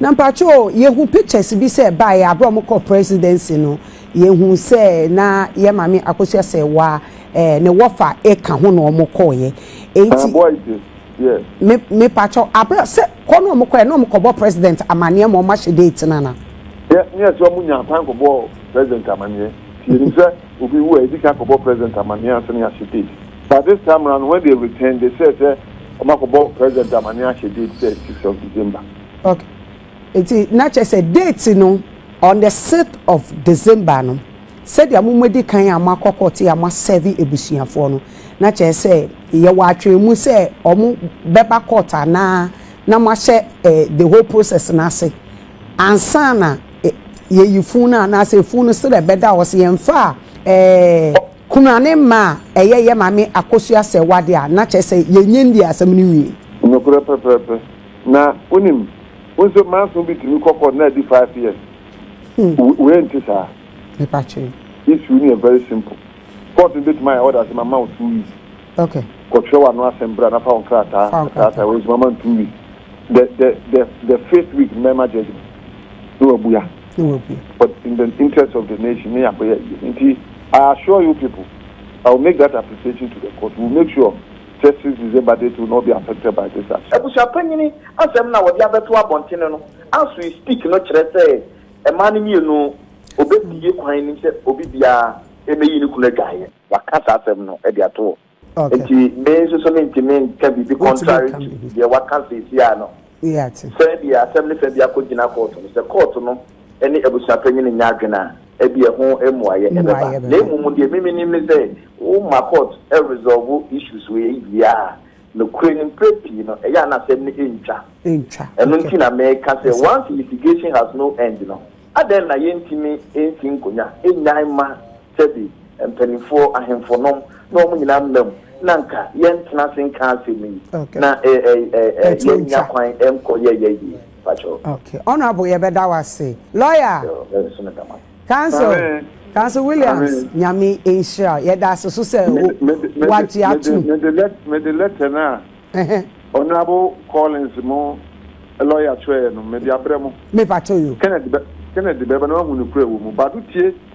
Na mpakyɛ o yɛhu pictures bi sɛ ɛbaeɛ a berɛ a wɔkɔɔ presidency no yɛhu sɛ na yɛn maame Akosua Ssewa eh, ne wɔfa ɛka ho na wɔkɔeɛ enti Ɛboa yi te deɛ. me mepakyɛ aberɛ a sɛ kɔ na wɔkɔeɛ na wɔkɔbɔ president amaneɛ ma wɔahyɛ date no anaa? Deɛ ne ɛsɛ wɔn nya kwan kɔbɔ president amaneɛ nti yɛnim sɛ obi wu a yɛdi kan kɔbɔ president amaneɛ ansa na yɛahyɛ date. But this time round when they returned they said sɛ wɔn akɔbɔ president amaneɛ ahyɛ date sɛ six of December. Ok nti na kyerɛ sɛ date no on the sixth of December no sɛdeɛ mo mo adi kan a mo akɔ court a mo asɛve abusuafoɔ no na kyerɛ sɛ yɛ wɔ atwɛn mu sɛ wɔn bɛ ba court anaa na mo ahyɛ eh, the whole process no ase ansa na eh, yɛyi fun no anaasɛ fun no srɛ bɛda hɔ sɛ yɛn fa eh, Kunu a ne mma a ɛyɛ yɛ maame akosua sɛ w'ade a, na kyerɛ sɛ yɛnyɛ ndii asɛm no nwie. Nokorɛ pɛpɛɛpɛ. Na wonim, wo nso manso bi tumi kɔ court na adi five years. Wei wei nte saa. Mepatwee. Issue no yɛ very simple. Court no bɛtumi ayɛ order sɛ mama wo two weeks. Okay. Kɔtwerɛ w'ano asɛm bra na fa wo nkrataa Fa wo krataa. krataa wei nso mama no two weeks. The the the the fifth week no mɛma judgement na wabua. but in the interest of the nation ne yɛakɔyɛ ayie no nti I assure you people I will make that application to the court we will make sure justice December date will not be affected by this action. Abusuapanyini asɛm na wɔde abɛto abɔntene no as we speak no kyerɛ sɛ mmaa no mmienu ɔbɛbue kwan nim sɛ obi biara mmɛyi ne kunu adwaeɛ. Waka saa asɛm no de ato Nti me nso so mentumi nka biribi contrary to deɛ waka seesiaa no. Sɛ deɛ asɛm no fa biako gyina kɔɔto no, sɛ kɔɔto no ne abusuapanyin no nyɛ adwene a, ɛbi ɛho mmuaeɛ ɛbɛba. Na mmom deɛ me menim ne sɛ, wo ma court resolve issues wei wie a, nokorɛ no mprɛ pii no ɛyɛ a na asɛm no ntwa. Ɛno nti na meka sɛ once litigation has no end no, adɛn na yɛntumi nsi nkonnwa nnyae mma Dabi, mpanimfoɔ, ahemfonom, na wɔn nyinaa mma mu, na anka yɛntena ase nka asɛm yi, na yɛnnya kwan nkɔ yɛn yɛn yie. Mpakyɛw. Okay, Honourable, yɛbɛda wo ase. Lawyer! Yoo, me nso meda mo ase. Counsel, Amen. Counsel Williams, Amen. Nyame nhyira wo. Yɛda ase so sɛ Me de, me de, me de, wagye me de, atom. me de, let, me de letter no a Ɛhɛ, Honourable Collins mo lawyer twerɛeɛ no, me de abrɛ mo. mepakyɛ yo. Kenneth bɛ, Kenneth bɛba na wahu nokorɛ a ɛwɔ mu. Bado tie.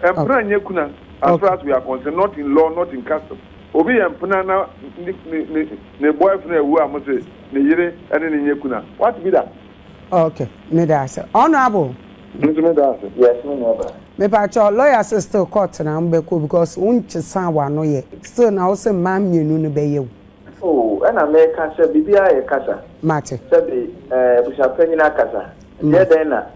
Mpena nyɛ kuna as far as we are concerned not in law not in custom obi yɛ mpena na ne ne ne ne boyfriend awu a mo se ne yere ne ne nyɛ kuna what be that. Ok meda ase honourable. Me nso meda ase yes me nua baa. Mepakyɛw lawyer se still court na wobɛkɔ because wonkyesaa wano yɛ still na wose mmaa mmienu no bɛyɛ wo. Oh ɛna meka sɛ biribiara yɛ kasa. Mate. Sɛbe ɛɛ abusuapanyin akasa. Mate. Ɛdeɛ dɛn na.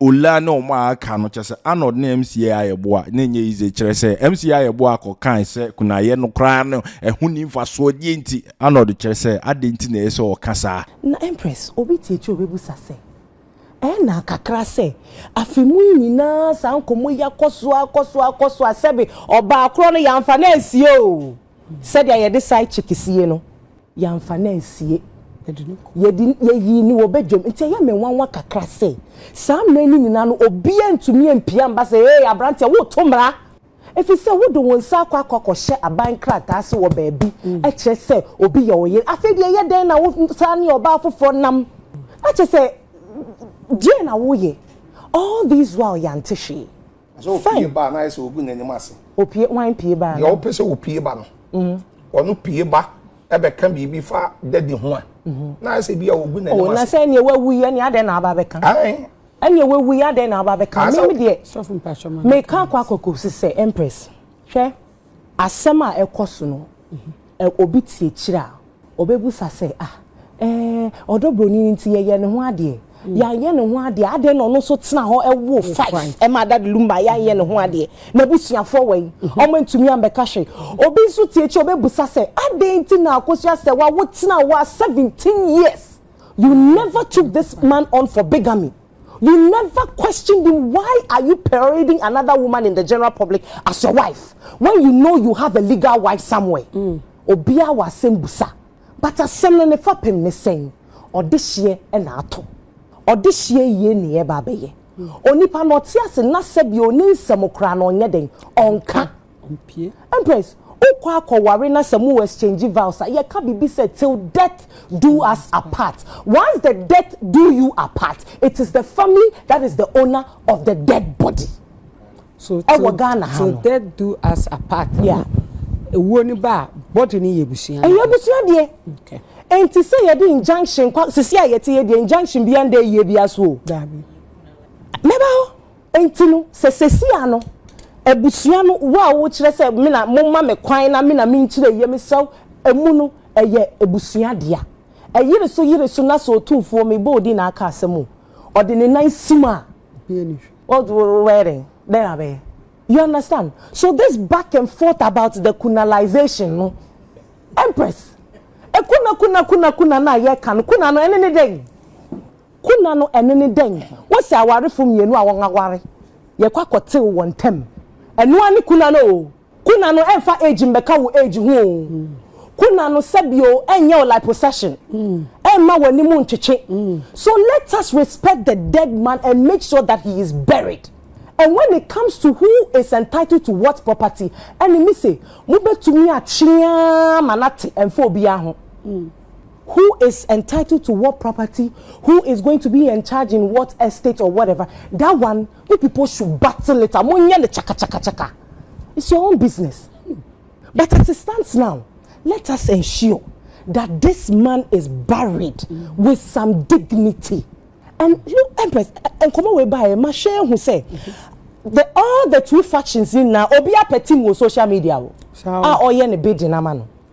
Ola ne wɔn a aka no, kyerɛ sɛ Arnold ne MCA ayɛboa na ɛnyɛ yize, kyerɛ sɛ MCA ayɛboa kɔ kae sɛ kunayɛ no koraa no ɛho nni mfasoɔ, deɛ nti? Arnold kyerɛ sɛ adɛn nti na ɛyɛ sɛ ɔka saa? Na Empress, obi te akyire ɔbɛbisa sɛ, Ɛyɛ naa kakra sɛ afe mu yi nyinaa saa nkɔmmɔ yi akɔ so ara, akɔ so ara, akɔ so ara, sɛbe ɔbaa korɔ no yɛamfa no ansie oo. Sɛdeɛ yɛde side chick sie no, yɛamfa no ansie. Yɛde, yɛyii no wɔ badwam. Nti ɛyɛ me nwanwa kakra sɛ, saa mmerɛ no nyinaa no, obiara ntumi ampia mma sɛ, Ee, aberanteɛ, woreto mmara! Ɛfiri sɛ wode wo nsa akɔ akɔ akɔhyɛ aban krataa ase wɔ baabi kyerɛ sɛ obi yɛ wo yere. Afei deɛ ɛyɛ dɛn na wosan ne ɔbaa foforɔ nam? Na kyerɛ sɛ, deɛn na woreyɛ? All this while yɛante hwee. Sɛ opue ba a, na ayɛ sɛ ogu n'anim ase. Opue, hwan pue ba? Deɛ ɔpɛ sɛ opue ba no. Mm-hmm. Ɔno pue ba ɛbɛka biribi fa dadi ho a, mm-hmm. na ayɛ sɛ bi a ogu n'anim oh, ase. Ɔna sɛ ɛneɛ wawu yi ɛneɛ adɛn na aba bɛka? Ɛneɛ wawu yi adɛn na aba bɛka? Mimi deɛ, meka akɔ akɔkɔ sisɛ Empress. Hwɛ. Asɛm a ɛkɔ so no, obi te akyiri a, ɔbɛbisa sɛ, Ah, ɛɛ, ɔdɔ buroni no nti yɛyɛɛ ne ho adeɛ. Yɛanyɛ ne ho adeɛ a, adɛn na ɔno nso tena hɔ woo five maa Dade Lumba a yɛanyɛ ne ho adeɛ? N'abusuafoɔ wɔ he? Wɔantumi ammɛka hwee. Obi nso te akyiri a ɔbɛbisa sɛ, Adɛn nti na Akosua Serwaa, wotenaa hɔ a seventeen years, you never took this man on for bigamy? You never questioned him why are you parading another woman in the general public as your wife when you know you have a legal wife somewhere? Mm. Obia wa asem busa. But asem no ne fapem ne sɛn? Ɔdehyeɛ na ato. Ɔdehyeɛ yie ne yɛba abɛyɛ. Mm. Onipa na ɔte ase na sɛbi ɔni nsɛm koraa na ɔnyɛ den ɔnka. Mpie. Empress, wokɔ akɔware na sɛ mo exchange vows a, yɛka biribi sɛ till death do us apart. Once the death do you apart, it is the family that is the owner of the dead body. So Ɛwɔ Ghana ha no. till death do us apart no, ewuo no ba a, body no yɛ abusua no. Ɛyɛ abusua deɛ. Okay. Enti sɛ yɛde injunction kwa, sisi a yɛte yɛ deɛ injunction biara nda ayie biara so o. Daabi. Mɛba hɔ. Enti no, sɛ sesia no, abusua no, wo a wo kyerɛ sɛ me na mo ma me kwan na me na me nkyerɛ yie, me srɛ wo, ɛmu no, ɛyɛ abusua dea. Ɛyere so yere so na sɛ otumfoɔ, me bɔ odin na aka asɛm o, ɔde ne nan sim a, wo de wo bɛyɛ dɛn? Dɛn na bɛyɛ? You understand? So this back and forth about the kunalization no, Empress, kuna kuna kuna kuna no a yɛka no, kuna no, ɛne ne dɛn? Kuna no ɛno ne dɛn? Wose awarefo mmienu a wɔn aware yɛ kɔ akɔtew wɔn ntam. Ɛno ara ne kuna no o. Kuna no ɛmfa age mmɛka wo age ho o. Kuna no sɛbi o ɛnyɛ wo liposuction. Ɛmma w'anim ntwetwe. So let us respect the dead man and make sure that he is buried. And when it comes to who is entitled to what property ɛne mise mobɛtumi atwe ara ma no ate ɛmfa obiara ho. Who is entitled to what property, who is going to be encharge in what estate or whatever, that one u pipo should battle it and mo nyɛ no chakachakachaka, it's your own business but as it stands now let us ensure that this man is buried with some dignity and you Empress nkɔmɔ wei baa yɛ ma hwɛ ehu sɛ the all the two factions nyinaa obiara pɛ team wɔ social media o a ɔyɛ ne bidding ama no.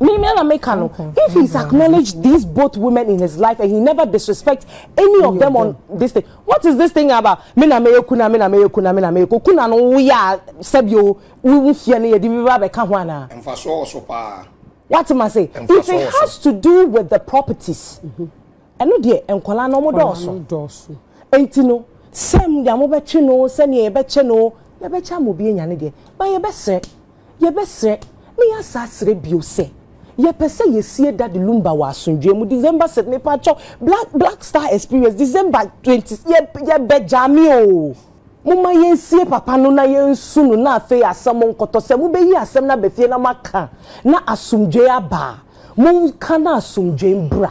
Me me na me ka no. If he's acknowledged these both women in his life and he never disrespect any of them on this thing, what is this thing about? Me na me kuna, me na me kuna, me na me ko kuna no wo ya sebio wo mfie no ye di bi ba be ka ho ana? Mfaso oso paa. What am I say? If it has to do with the properties. Mm -hmm. Ɛno deɛ nkwadaa no wɔdɔɔso. Nkwadaa no dɔɔso. Nti no sɛm deɛ mobɛtwe no o sɛdeɛ yɛbɛkyɛ no o yɛbɛkyɛ ama obi anya ne deɛ but yɛbɛsrɛ yɛbɛsrɛ ne yɛasa asrɛ bio sɛ yɛpɛ sɛ yɛsie Daddy Lumba wɔ asomdwoeɛ mu December sɛ mepakyɛw black black star experience December twenty yɛb yɛbɛ gyaa me o momma yɛnsie papa no na yɛnsu no na afei asɛm nkɔtɔ sɛ mobɛyi asɛm no aba fie na moaka na asomdwoeɛ aba a monka na asomdwoeɛ mbra.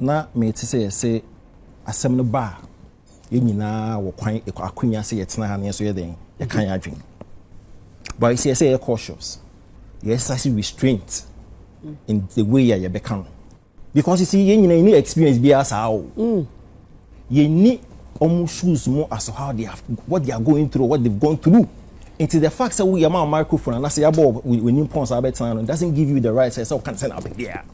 Na mete sɛ yɛse asɛm no ba a, yɛn nyinaa wɔ kwan, akwanya sɛ yɛtena ha na yɛn nso yɛ dɛn? Yɛka yɛn adwene. But you see, ɛsɛ yɛyɛ cautious. Yɛ exercise restraint in the way a yɛbɛka no. Because you see, yɛn nyinaa yɛnni experience biara saa o. Mm. Yɛnni wɔn shoes mu as how they have, what they are going through, what they've gone through. Nti the fact sɛ woyɛ ma microphone anaasɛ yɛabɔ w'anim pɔn saa bɛtena no doesn't give you the right sɛ sɛ woka no sɛ na wopɛ biara.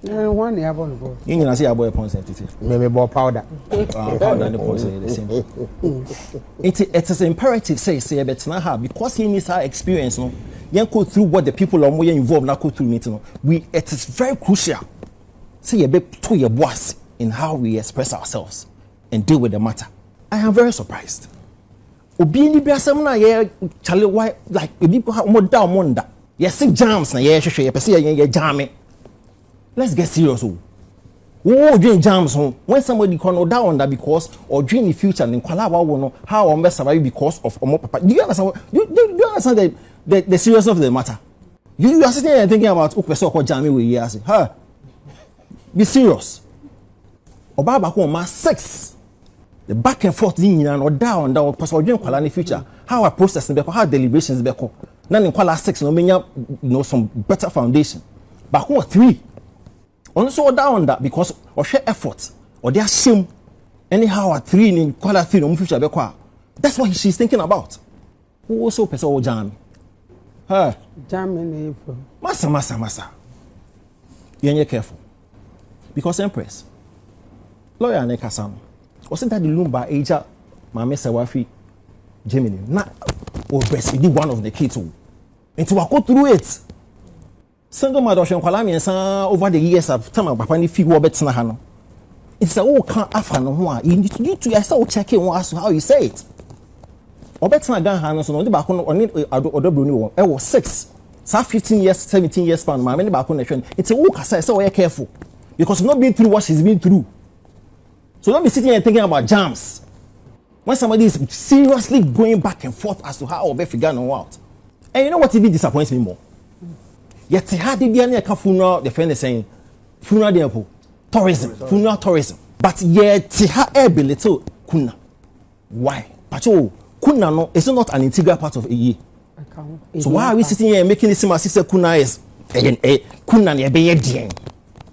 wọn na yabɔ no pɔn. yín nyina sɛ yabɔ yɛ pɔn sɛ tete. mɛmɛ bɔ powder. Ah, powder ne pɔn sɛ yɛ the same. it it is imperative sɛ sɛ yɛ bɛ tena ha because yɛn ni saa experience no yɛn go through what the people a wɔn yɛ involved na go through ne ti no we it is very crucial sɛ yɛ bɛ to yɛ bo ase in how we express ourselves and deal with the matter i am very surprised. Obi ani bɛ asɛm no a yɛ chale why like ebi kɔ ha wɔn da wɔn nda. Yɛse jams na yɛhwehwɛ yɛpɛ sɛ yɛyɛ yɛ jame let's get serious o woo dwen jams ho when somebody kɔ no ɔda ɔnda because ɔdwen ne future ne nkwalaa wawo no how wɔn bɛ survive because of ɔmo papa do you understand do, do, do you understand the, the, the seriousness of the matter you, you are sitting there thinking about wopɛ sɛ ɔkɔ jame wɔ yi ase ha be serious ɔbaa baako ɔma six. The back and forth ne nyinaa no ɔda a ɔnda ɔpɛ sɛ ɔdwen nkwadaa ne future how a process no bɛkɔ how deliberations bɛkɔ na ne nkwadaa six na ɔmenya you know some better foundation baako wɔ three ɔno nso ɔda a ɔnda because ɔhwɛ effort ɔde ahyɛ mu ɛne how a three ne nkwadaa three na ɔmo future bɛkɔ a that's what she is thinking about. Wo so pɛ sɛ wo gyan me. Hey. Gyan me na efu. Masa masa masa. Yɛn yɛ careful. Because Empress. Lawyer ne kasa no. Ɔsɛ dade lumba agya maame sɛ wafi Germany na o breastfeed one of the kids o. Nti wakɔ through it. Single mother ɔhwɛ nkwadaa mmiɛnsa over the years of time a papa no fi hɔ bɛtena ha no. Nti sɛ woka afa ne ho a, you need you to ɛsɛ wo check wɔn as to how you say it. Ɔbɛtena Ghana ha no so no, ɔde baako no ɔne ɔdɔ broni wɔ wɔn ɛwɔ six saa fifteen years seventeen years span maame ne baako na ɛhwɛ no. Nti wo kasa ɛsɛ ɔyɛ careful because you no been through what she's been through. So don't be sitting here thinking about jams. When somebody is seriously going back and forth as to how ɔbɛ figure ne ho out and you know what even disappoints me more yɛte ha de bia ne yɛka funeral de fɛ ne sɛn funeral deɛ po tourism funeral tourism but yɛte ha ɛyɛ belittle kuna why pakyɛ o kuna no is not an integral part of eye so why are we sitting here and making it seem as if sɛ kuna is ɛyɛ eh, eh, kuna na ɛbɛyɛ deɛn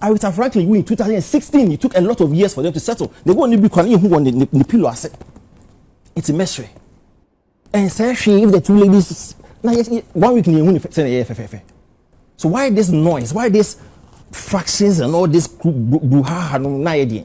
Aretha Franklin wu in 2016 it took a lot of years for them to settle ne wɔn ne bi kwan ehu wɔn ne ne pillow ase nti mɛsrɛ ɛnsɛ hwee if the two ladies na yɛ one week ni ehu ne sɛ na yɛ fɛfɛɛfɛ so why this noise why this fractions and all this bruhaha no na yɛ deɛ.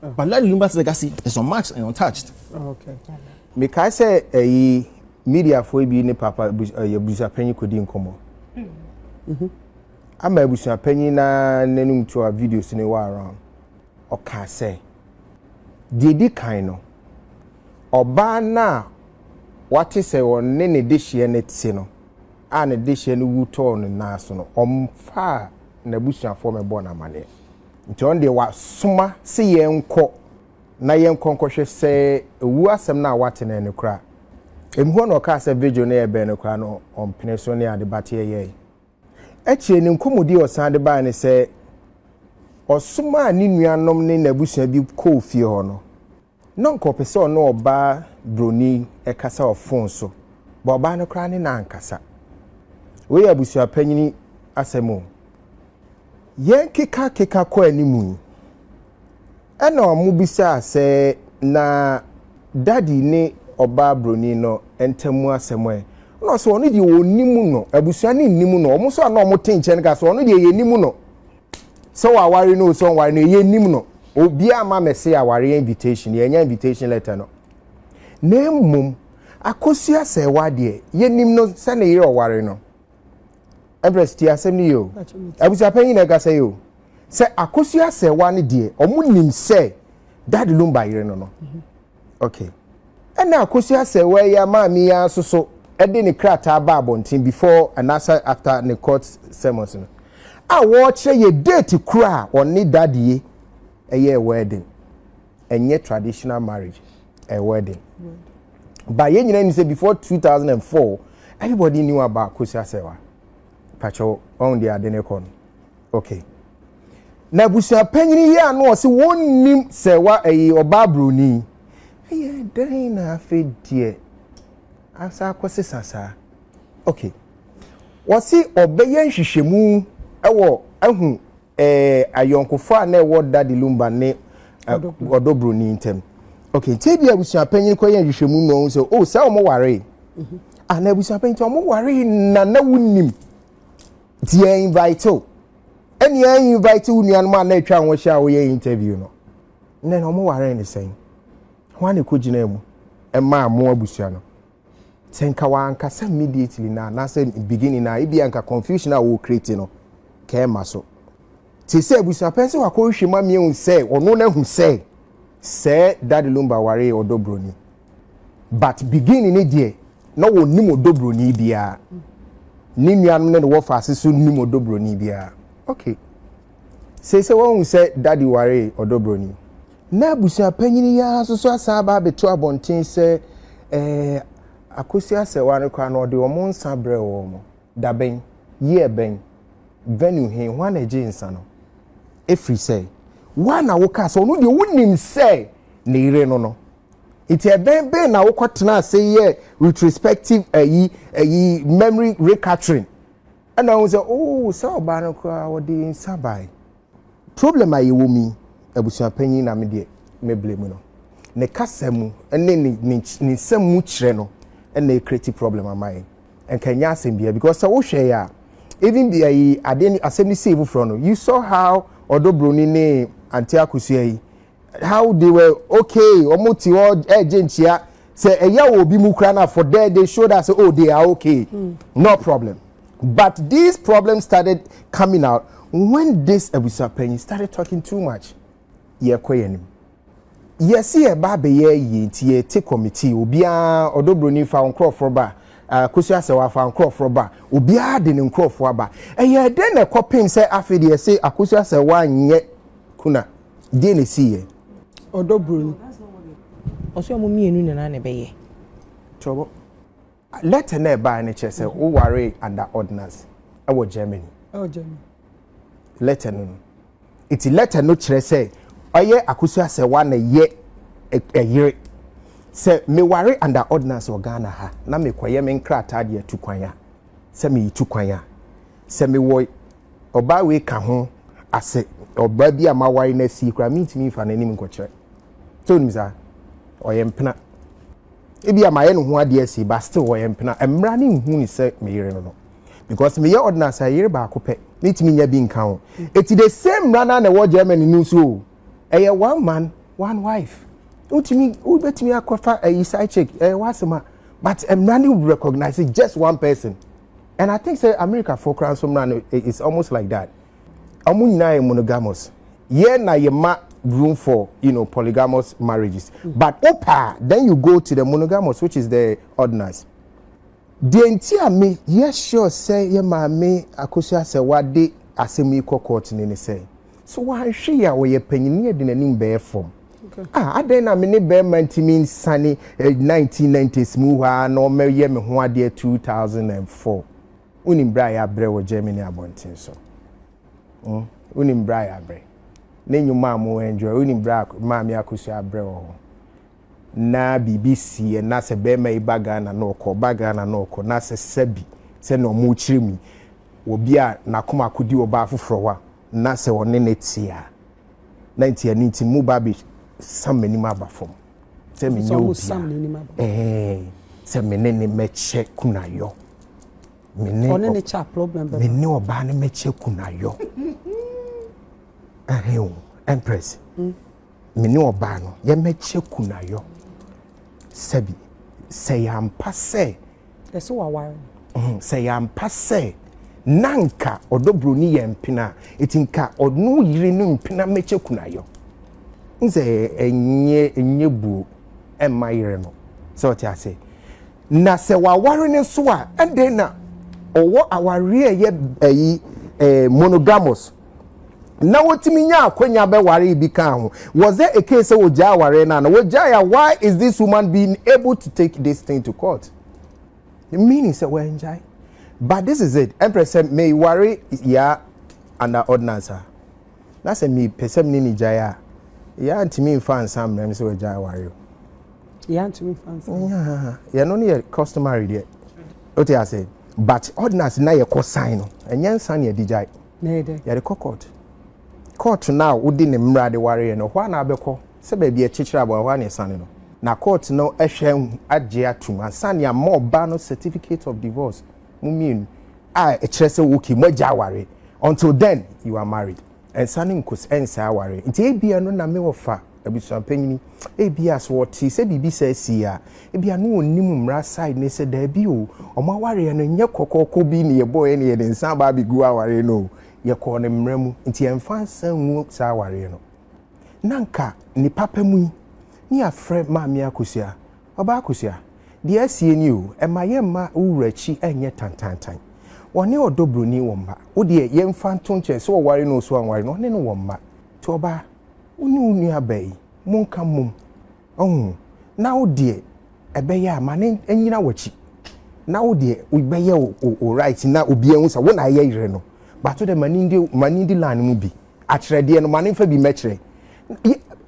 But Larry Lumba's legacy is unmatched and untouched. Okay. Mekae sɛ ɛyi eh, mediafoɔ bi ne papa ɛyɛ eh, abusuapanyin kɔdi nkɔmmɔ. Mm-hmm. Ama abusuapanyin na n'anum to a videos ne wɔ around. Ɔkaa sɛ, deɛ di kan no, ɔbaa no a wate sɛ ɔne ne dehyeɛ no te no a ne dehyeɛ no wu tɔɔ ne nan so no ɔmfaa n'abusuafoɔ mɛbɔ no amaneɛ Nti ɔno deɛ wasoma se yɛnkɔ na yɛnkɔ nkɔhwɛ sɛ owu asɛm no a wate no ɛne koraa. Emu hɔ na ɔkaa sɛ vigil no yɛ bɛn no koraa no ɔmpene so ne ade but yɛyɛe. Akyire no nkɔmmɔdi a ɔsan de baeɛ ne sɛ ɔsomaa ne nuanom ne n'abusua bi kɔɔ fie hɔ no, Na anka ɔpɛ sɛ ɔne ɔbaa buroni yi kasa wɔ fon so, but ɔbaa no koraa ne no ankasa. Wei yɛ abusuapanyin asɛm o. Yɛrekekakeka kɔ anim yi, ɛna wɔbisaa sɛ, Na Daddy ne ɔbaa buroni no ntam mu asɛm ɛ? Ɛna ɔse, Ɔno deɛ wɔnnim no. Abusua no nnim no. Wɔn nso a na wɔte nkyɛn no kaa sɛ, Ɔno deɛ yɛnnim no. sɛ waware no o sɛ ɔnware no o yɛnnim no obiara amma mɛse awareɛ invitation yɛanya invitation letter no na mmom Akosua Asɛɛwa deɛ yɛnim no sɛ ne yere ɔware no Empress tie asɛm no yie o abusuapɛn nyinaa ɛkasa yi o sɛ Akosua Asɛɛwa no deɛ ɔmo nim sɛ Dad Lumba yere no no Okay. Ɛna Akosua Asɛewaa yi ara maame yi ara nso so de ne krataa baa abɔnten before anaasɛ after ne court sermons no a wɔrekyerɛ yɛ date koro a ɔne dadie ɛyɛɛ wedding. Ɛnyɛ traditional marriage, ɛyɛ wedding. But yɛn nyinaa nim sɛ before 2004 everybody knew about Akosua Asɛewaa. Pakyɛw, ɔn de ade ne kɔ no. Okay. Na abusua panyin yi a na ɔse wɔnnim sɛ wa ɛyi ɔbaa buroni ɛyɛ dɛn na afei deɛ asa akɔsesa saa. Okay. Wɔse ɔbɛyɛ nhwehwɛmu ɛwɔ ahu ɛɛ eh, ayɔnkofa a na ɛwɔ Daddy Lumba ne eh, ɔdɔ buroni ntam. Okay, nti ebi abusua panyin kɔyɛ nhwehwɛmu na ɔhu sɛ o oh, sɛ wɔn waree. Mhm. Ah, na abusua panyin nti wɔn waree na na wonim. nti yɛ invite o ɛne yɛ invite wo nuanom a na atwa ho ahyia a woyɛ interview no nnɛ na wɔn ware ne sɛn ho a na ɛkɔ gyina mu ɛmaa mo abusua no sɛ nka wankasa immediately na anaasɛ beginning na ebi anka confusion a wɔ create no kɛɛma so te sɛ abusua pɛn sɛ wakɔhwehwɛ mu amia hu sɛ ɔno no ahu sɛ sɛ dade lumba ware ɔdɔ broni but beginning ne deɛ na wɔnim ɔdɔ buroni biara ne nuanom ne ne wɔfaase so nim ɔdɔ buroni biara okay sei sɛ wɔhu sɛ daddy waree ɔdɔ buroni na abusuapanyini yi ara nso so asan aba abɛto abɔnten sɛ ɛɛ akosi asɛwa no koraa no ɔde wɔn nsa brɛ wɔn dabɛn year bɛn venue he hwan na ɛgye nsa no ɛfiri sɛ woa na wokaa sɛ ɔno deɛ wonim sɛ ne yere no no Nti ɛbɛn bɛn na wokɔ tena ase yɛ retrospective ayi ayi memory recapturing ɛna ohun sɛ oo oh, saa ɔbaa no koraa wɔde nsa bae problem a yɛwɔ mi abusuapanyin na me deɛ me bere mu no ne kasa mu ne ne ne nsɛm mu kyerɛ no ɛna ekreti problem ama yɛn nka nyɛ asɛm bia because sɛ wohwɛ yɛ a even bia yi adeɛ asɛm no sii foforɔ no you saw how ɔdɔ broni ne ante akosua yi how they were okay wɔn ti hɔ ɛgye nkyia sɛ ɛyɛ wɔ obi mu kura na for there they showed us oh they are okay mm. no problem but these problems started coming out when this abusuapanyin started talking too much yɛ kɔ yɛn anim yɛsi yɛ ba abɛyɛ yie nti yɛ te kɔmitii obiara ɔdɔ broni fa nkorɔfoɔ ba akosi ah, asɛ wafa nkorɔfoɔ ba obiara de ne nkorɔfoɔ aba ɛyɛ dɛn na ɛkɔ pem sɛ afei deɛ ɛsɛ akosi asɛ wanyɛ kuna. Deɛ na ɛsii yɛ? Ɔdɔ buroni. Ɔsɛ ɔmo mmienu nyinaa na ɛbɛyɛ. Tɔbɔ. Lɛtɛ na ɛbaa no kyerɛ sɛ wowaree under ordinance ɛwɔ Germany. Ɛwɔ Germany. Lɛtɛ no no. Nti lɛtɛ no kyerɛ sɛ ɔyɛ Akusu Asɛwa na ɛyɛ ɛyere. Sɛ meware under ordinance wɔ Ghana ha na mekɔyɛ me nkrataa de atu kwan a, sɛ meretu kwan a, Sɛ mewɔ ɔbaa wei ka ho ase, ɔbaa bi a maware no asie koraa, mentumi mfa n'anim nkɔkyerɛ. Sɛ wonim saa? Ɔyɛ mpena. Ebi a mayɛ ne ho adeɛ asie, but still ɔyɛ mpena. Mmara no nhu ne sɛ me yere no no. Because meyɛ ordinance a, yere baako pɛ, metumi nya bi nka ho. Eti the same mmara no ara na ɛwɔ Germany no nso o. Ɛyɛ one man, one wife. Wotumi, wobɛtumi akɔfa ayi side chick, ɛyɛ w'asɛm a, but mmara no recognise just one person. and i think sɛ americafoɔ koraa nso mmara no is almost like that wɔn nyinaa yɛ monogamous yɛ na yɛ ma room for you know polygamous marriages but opa then you go to the monogamous which is the ordinance deɛ nti a me yɛ sure sɛ yɛ maame akosua sɛ wade asɛm yi kɔ court ni ne sɛ. So wanhwɛ yi a ɔyɛ panyin ne yɛde n'anim bɛyɛ fam. Ah, adɛn na me ne bɛrima ntumi nsane 1990s eh, mu hɔ ara na ɔmɛyɛ me ho adeɛ 2004. Wonim berɛ a yɛabrɛ wɔ Germany abɔnten so. Hmm? Wonim berɛ a yɛabrɛ. Ne nnwuma a mo enjoy, wonim berɛ a maame akosua abrɛ wɔ hɔ. na biribi siiɛ na sɛ barima yi ba Ghana na ɔkɔ, ɔba Ghana na ɔkɔ na sɛ sɛbi sɛdeɛ wɔkyerɛ mu yi, obi a n'akoma akɔdi ɔbaa foforɔ hɔ a, na sɛ ɔne no te a, na nti ɛno nti moba abɛsam m'anim aba fam sɛ menyɛ obi a, ɛɛɛ, sɛ me ne no mɛkyɛ kunayɔ. Me ne ɔne no kyɛ a problem bɛba. Me ne ɔbaa no mɛkyɛ kunayɔ. Ɛhɛn o, Empress. Mm. me ne ɔbaa no yɛmmɛkyɛ kunayɔ sɛbi sɛ yɛ ampa sɛ ɛsɛ waware no sɛ yɛ ampa sɛ na nka ɔdɔ buroni yɛ mpena a ɛti nka ɔno yere no mpena mmɛkyɛ kunayɔ n sɛ ɛnyɛ ɛnyɛ buo ɛmma yere no sɛ ɔte ase na sɛ waware no nso a ɛdɛn na ɔwɔ awareɛ ɛyɛ ɛyi eh, monogamous na wotumi nya akwanya bɛwaree bi kaa ho. Was there a case sɛ wɔgyaa awareɛ no a na wɔgyae a why is this woman being able to take this thing to court? Meaning sɛ wɔangyae. But this is it, ɛmprɛ sɛ meware yaa under ordinance a, na sɛ mepɛ sɛ mene ne gyae a, yaa ntumi mfa nsa mmerɛ me sɛ wɔagyae awareɛ o. Yaa ntumi mfa nsa. Yɛno no yɛ customary deɛ. Wote ase? But ordinance na yɛkɔ sign no, ɛnyɛ nsa ne ɛde gyae. Na ɛyɛ dɛn? Yɛde kɔ court. Court no a wode ne mmara de wareɛ no, ɛhɔ ara na wobɛkɔ. Sɛ baabi a ɛkyekyere aboa, ɛhɔ ara na ɛsane no. Na court no hwɛ agye atom ansa na ama ɔbaa no certificate of divorce, mo mmienu, a ɛkyerɛ sɛ okay, moagya aware. Until then, you are married. Ɛnsane nkos, ɛnsɛe awareɛ. Nti ebia ɛno na me ɔfa. abusuampanyini. Ebia sɛ ɔte sɛ biribi saa sii a, ebia na ɔnim mmara side ne sɛ daabi o, wɔn awareɛ no nyɛ kɔkɔɔkɔ bi na yɛbɔeɛ na yɛde nsa aba abɛgu awareɛ no o, yɛkɔɔ no mmara mu, nti yɛmfa nsa ngu saa awareɛ no. Na nka ne papa mu yi, ne yɛafrɛ Maame Akosua, Ɔbaa Akosua, deɛ asie nie o, ɛma yɛmma wo wura akyi nyɛ tantantan. Ɔne ɔdɔ buroni wɔ mma. Wo deɛ yɛmfa nto nkyɛn sɛ ɔware no o sɛ wanware no, ɔne no wɔ mma. Nti ɔbaa, wo ne wo nuabaa yi monka mmom, wahu, na wo deɛ ɛbɛyɛ a ma no nyina w'akyi, na wo deɛ wobɛyɛ wo right na obi ahu sɛ wo na ayɛ yere no, but wo deɛ ma no ndi ma no ndi line mu bi, akyerɛdeɛ no ma no nfa bi mmɛkyerɛ.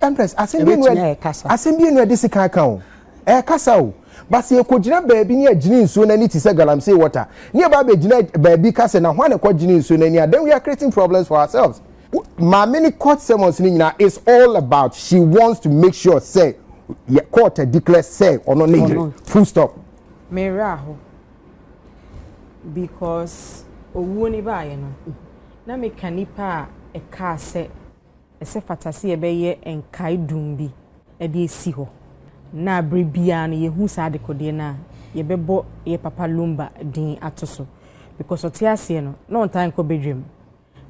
Empress, asɛm bi enu asɛm bi enu ɛde sika aka o, ɛkasa o, but sɛ yɛkɔgyina baabi ne yɛgyene nsuo no ani te sɛ galamsey water, ne yɛba abɛgyina baabi ka sɛ na hwan na ɛkɔgyene nsuo no ani a, then we are creating problems for ourselves. Maame no court sermons no nyinaa is all about she wants to make sure sɛ yɛ court a declare sɛ ɔno ne yere full stop. Me werɛ aho because owuo no baeɛ no na meka nipa a ɛkaa sɛ ɛsɛ fata sɛ yɛbɛyɛ nkae dum bi ɛde esi hɔ na abere biara no yɛhu saa adekodeɛ no a yɛbɛbɔ yɛ papa Lumba din ato so because ɔte aseɛ no na ɔntaa nkɔ bedwam.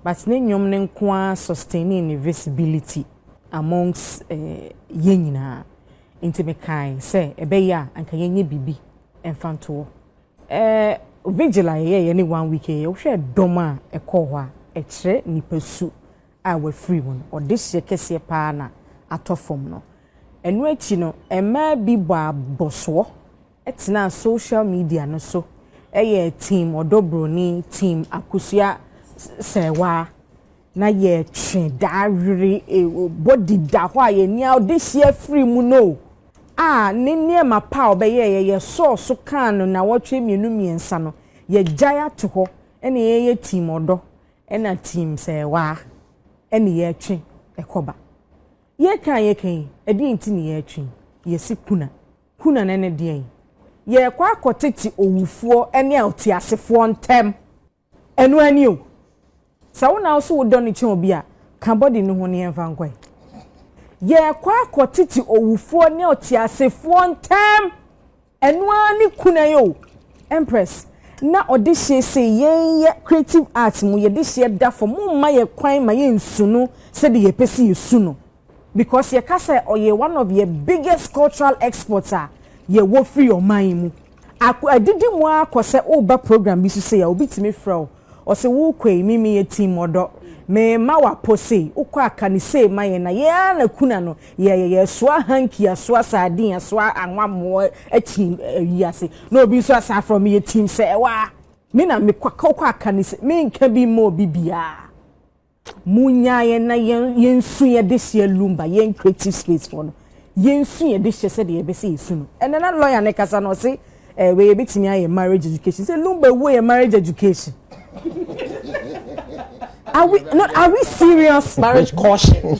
but ne nnwom no nko ara sustainee ne visibility amongst yɛn nyinaa nti me kae sɛ ɛbɛyɛ a anka yɛnyɛ biribi mfa nto hɔ. Eh, vigil a yɛyɛeɛ ne one week yɛyɛ, wohwɛ dɔm a ɛkɔɔ hɔ a, ɛkyerɛ nnipa su a wɔafiri mu no, ɔdehyeɛ kɛseɛ paa na atɔ fam no. Ɛno akyi no, mmaa bi bɔɔ abɔsoɔ tenaa social media no so yɛɛ Team Ɔdɔ Broni, Team Akosua Sɛɛwaa, na yɛtwe daa were body da hɔ a yɛn ani a ɔde hyia firi mu no o, a ne nneɛma pa a ɔbɛyɛeɛ yɛsɔɔ so kaa no nnawɔtwe mmienu mmiɛnsa no yɛgyae ato hɔ ɛna yɛyɛ Team Ɔdɔ ɛna Team Sɛɛwaa ɛne yɛtwe ɛkɔba. Yɛka a yɛka yi, ɛdeɛn nti ne yɛtwe yi? Yɛsi kuna. Kunane ne deɛn? Yɛrekɔ akɔtete owufoɔ ne ɔteasefoɔ ntam. Ɛno ara ni o. Sɛ wo na wo so wo dɔ no kyɛn obi a, ka body no ho na yɛmfa nkɔ ɛ. Yɛrekɔ akɔtete owufoɔ ne ɔteasefoɔ ntam. Ɛno ara ne kunane o. Empress, na ɔdehyeɛ sei yɛn yɛ creative arts mu yɛdehyeɛ da fam, momma yɛn kwan ma yɛnsu no sɛdeɛ yɛpɛ sɛ yɛsu no. because yɛka sɛ ɔyɛ one of yɛn biggest cultural exports a yɛwɔ firi ɔman yi mu. Ako adidi mu ara kɔ sɛ woba program bi so sei a obi tumi frɛ wo ɔse worekɔ ei me meyɛ team ɔdɔ mema wapɔ sei wokɔ a ka no sei ma yɛn na yɛn ara na kuna no yɛyɛ yɛsoa hanky asoa sardine asoa anwammoɔ team ayi ase na obi nso asan frɛ wo meyɛ team sɛ ɛwɔ a me na mekɔ wokɔ a ka no sei menka bi mma obi biara. Monnyaa yɛn na yɛn yɛnsu yɛn dehyeɛ lumba, yɛn creative space foɔ no. Yɛnsu yɛn dehyeɛ sɛdeɛ yɛpɛ sɛ yɛsu no. Ɛnɛ na lawyer no rekasa no, ɔse eh, wei yɛbɛtumi ayɛ marriage education. Sɛ lumba ɛwɔ yɛn marriage education. Are we, no, are we serious? Marriage caution.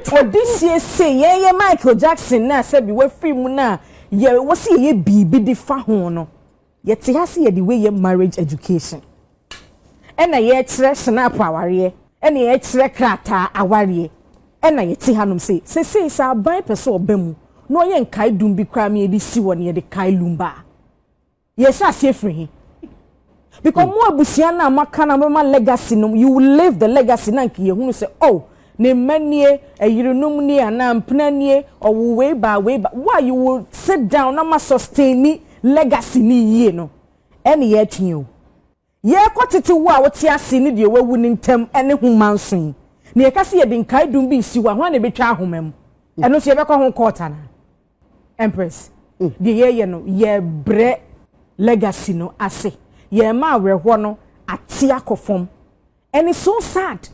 For this year say, yɛn yɛ Michael Jackson na sɛbi wafiri mu na yɛ, wɔsi yɛyɛ biribi de fa ho no. Yɛte ha se yɛde wei yɛ marriage education ɛna yɛkyerɛ snap awareɛ ɛna yɛkyerɛ krataa awareɛ ɛna yɛte ha nom se sesei sɛ aban pɛ sɛ ɔba mu na ɔyɛ nkae dum bi koraa ma yɛde si hɔ na yɛde kae lumba a yɛhyɛ aseɛ firi he? Because mo abusua no a moaka no a mobɛma legacy no you will leave the legacy na nka yɛhunu sɛ oh Ne mma nie, ɛyerenom nie anaa mpena nie, ɔwoo wei baa wei baa, wo a you will sit down na ma sustaini legacy no yie no, ɛne yɛretwe yi o. Yɛrekɔ tete wo a wote ase ne deɛ wawu no ntam ne ho mma nso yi, na yɛka sɛ yɛde nkaedum bi resi hɔ a, hwan na ɛbɛtwa ahoma mu? Ɛno nso yɛbɛkɔ ho court anaa? Empress, deɛ yɛreyɛ no, yɛrebrɛ legacy no ase. Yɛrema awerɛhoɔ no ate akɔ fam. Ɛne so sad.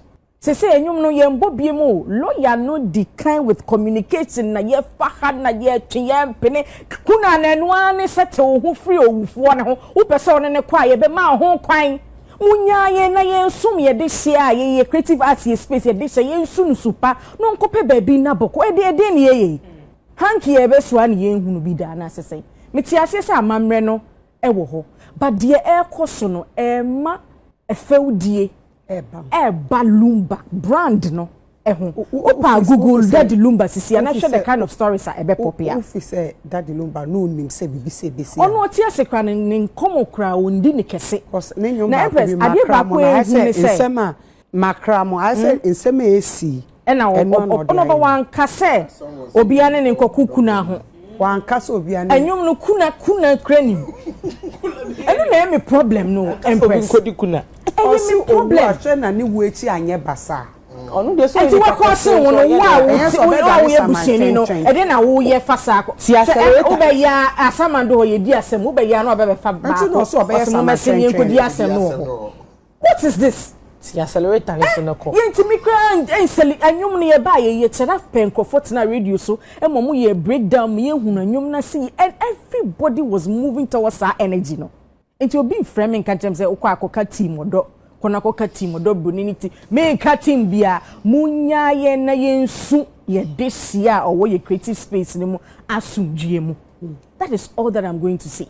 Sesei ɛnwom no yɛn bɔ biem o lawyer no di kan with communication na yɛ fa ha na yɛ twe yɛ mpene kunu a na ɛno ara ne sɛ te wo ho firi owufoɔ no ho wo pɛ sɛ ɔne no kɔ a yɛ bɛ ma wo ho kwan mo nyaa yɛn na yɛn som yɛ de hyɛ a yɛ yɛ creative arts yɛ space yɛ de hyɛ yɛn nsu no su pa no nkɔ pɛ baabi nna bɔkɔ ɛde ɛdeɛn ne yɛ yɛ yi hanky yɛ bɛ soa ne yɛn hunu bi da anaa sɛ sɛn me te aseɛ sɛ amammerɛ no ɛwɔ hɔ but deɛ ɛrekɔ so no ɛmma fɛwdie ɛɛba lumba brand no ɛho wopa google dadi lumba sisi ana hwɛ the kind of stories a ɛbɛ pop ya wofi sɛ dadi lumba no nim sɛ bibi sɛ besi ɔno ɔte ase kora ne ne nkɔmɔ kora ɔndi ne kɛse na ɛbrɛ adeɛ baako ɛhu ne sɛ nsɛm a makra mo ayɛ sɛ nsɛm a ɛsi Ɛna Ɔ, Ɔ, Ɔ, Ɔno Ɔba Wanka sɛ obiara ne ne nkɔko kuna ho. Wanka sɛ obiara ne. Ɛnwom no, kuna, kuna kura nim. Ɛno na ɛyɛ me problem no, Empress. Obi nkɔdi kuna. Ɛyɛ me problem. Ɔsi owu ahwɛ na ne wu akyi anyɛ basaa. Ɔno deɛ so yɛ nipa kɛseɛ nti ɔyɛ deɛ. Ɛyɛ sɛ ɔbɛ dane sama nkyɛnkyɛn. Ɛde na wo yɛ fa saa kɔ. Ti asɛrɛta. Wo bɛ ya asama do hɔ yɛ di asɛm, wo bɛ ya na ɔbɛ bɛ fa baako. Ɛnti na ɔsi ɔbɛ yɛ sama nkyɛnkyɛn. Ɔsi mo mɛ sɛ ni nkɔdi asɛm no wɔ hɔ. What is this? Ti accelerator ne so no kɔ. Yɛn ti mi kura nsɛli ɛnwom no yɛ ba yɛ yɛ kyerɛ pɛ nkorɔfoɔ tena radio so ɛma ɔmo yɛ break down mi yɛn hunu ɛnwom na si and everybody was moving towards saa energy no nti obi nfrɛ mi nka nkyɛn mi sɛ okɔ akɔ ka team ɔdɔ kɔ na kɔ ka team ɔdɔ broni ne ti mi nka team bia mo nya yɛn na yɛn su yɛ de si a ɔwɔ yɛ creative space ne mu asomdwie mu that is all that I'm going to say.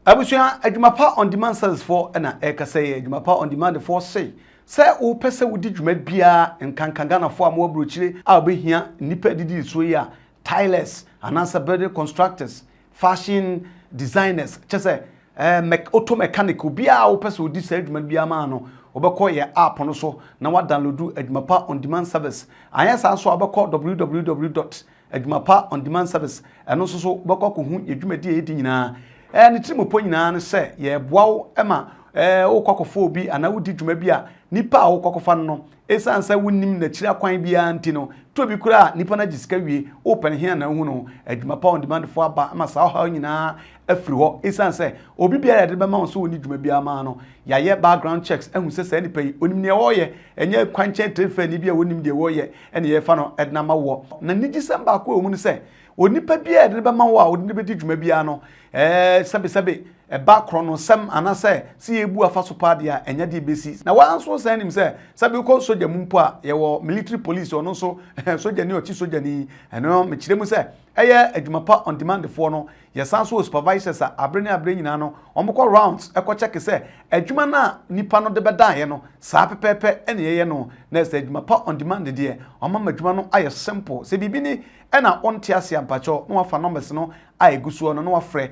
Abusua Adwuma Pa On Demand Sellers foɔ na ɛrekasa yi, Adwuma Pa On Demand foɔ se, sɛ wopɛ sɛ wodi dwuma biara, nkanka Ghanafoɔ a mowɔ aburokyire a wobɛhia nnipa adidie soɔ yi a, tilers, anaasɛ building constructors, fashion designers, kyɛ sɛ eh, mɛ, auto mechanic, obiara a wopɛ sɛ wodi saa adwuma no biara maa no, wobɛkɔ yɛ app no so na wadownloadu Adwuma Pa On Demand service. Anyɛ saa nso a, wobɛkɔ www. Adwumapa On Demand Service, ɛno nso so wobɛkɔ akɔhu yɛ dwumadi a yɛdi nyinaa. Ɛɛ ne tirimupɔ nyinaa ne sɛ yɛboa wo ma ɛɛ wokɔ akɔfa obi anaa wodi dwuma bi a nipa a wokɔ akɔfa no no esiane sɛ wonnim n'akyiri akwan biara nti no to bi koraa a nipa no agye sika wie wopɛ no he anaa wohu no ho Adwumapa On Demand fo aba ma saa ɔhaw nyinaa afiri hɔ esiane sɛ obi biara yɛde bɛma wɔn sɛ wɔnni dwuma biara maa no yɛayɛ background checks ahu sɛ saa nipa yi onim nea ɔreyɛ ɛnyɛ kwankyɛn tire fɛni bi a wɔnnim deɛ wɔreyɛ ɛna yɛfa no de ama woɔ na nigyesɛm baako a ɛwɔ mu ne sɛ onipa biara a yɛde no bɛma wo a wode no bɛdi dwuma biara no ɛɛ sɛbesɛbe ɛba korɔ no nsɛm anaasɛ sɛ yɛbu afa so paa deɛ a ɛnyɛ deɛ bɛsi na wɔn nso san nim sɛ sɛ bɛkɔ sogya mu mpo a yɛwɔ military police ɔno nso sogyani ɔkye sogyani ɛno mekyerɛ mu sɛ yɛ adwuma pa on demand foɔ no, yɛsan nso wɔ supervisors a abere ne abere nyinaa no wɔn kɔ rounds kɔ check sɛ adwuma no a nipa no de bɛdaeɛ no saa pɛpɛɛpɛ na yɛyɛ no na sɛ adwuma pa on demand deɛ wɔn ama adwuma no ayɛ simple sɛ biribi ni na wonte aseɛ a mpakyɛw na wafa numbers no a ɛgu soɔ no na wafrɛ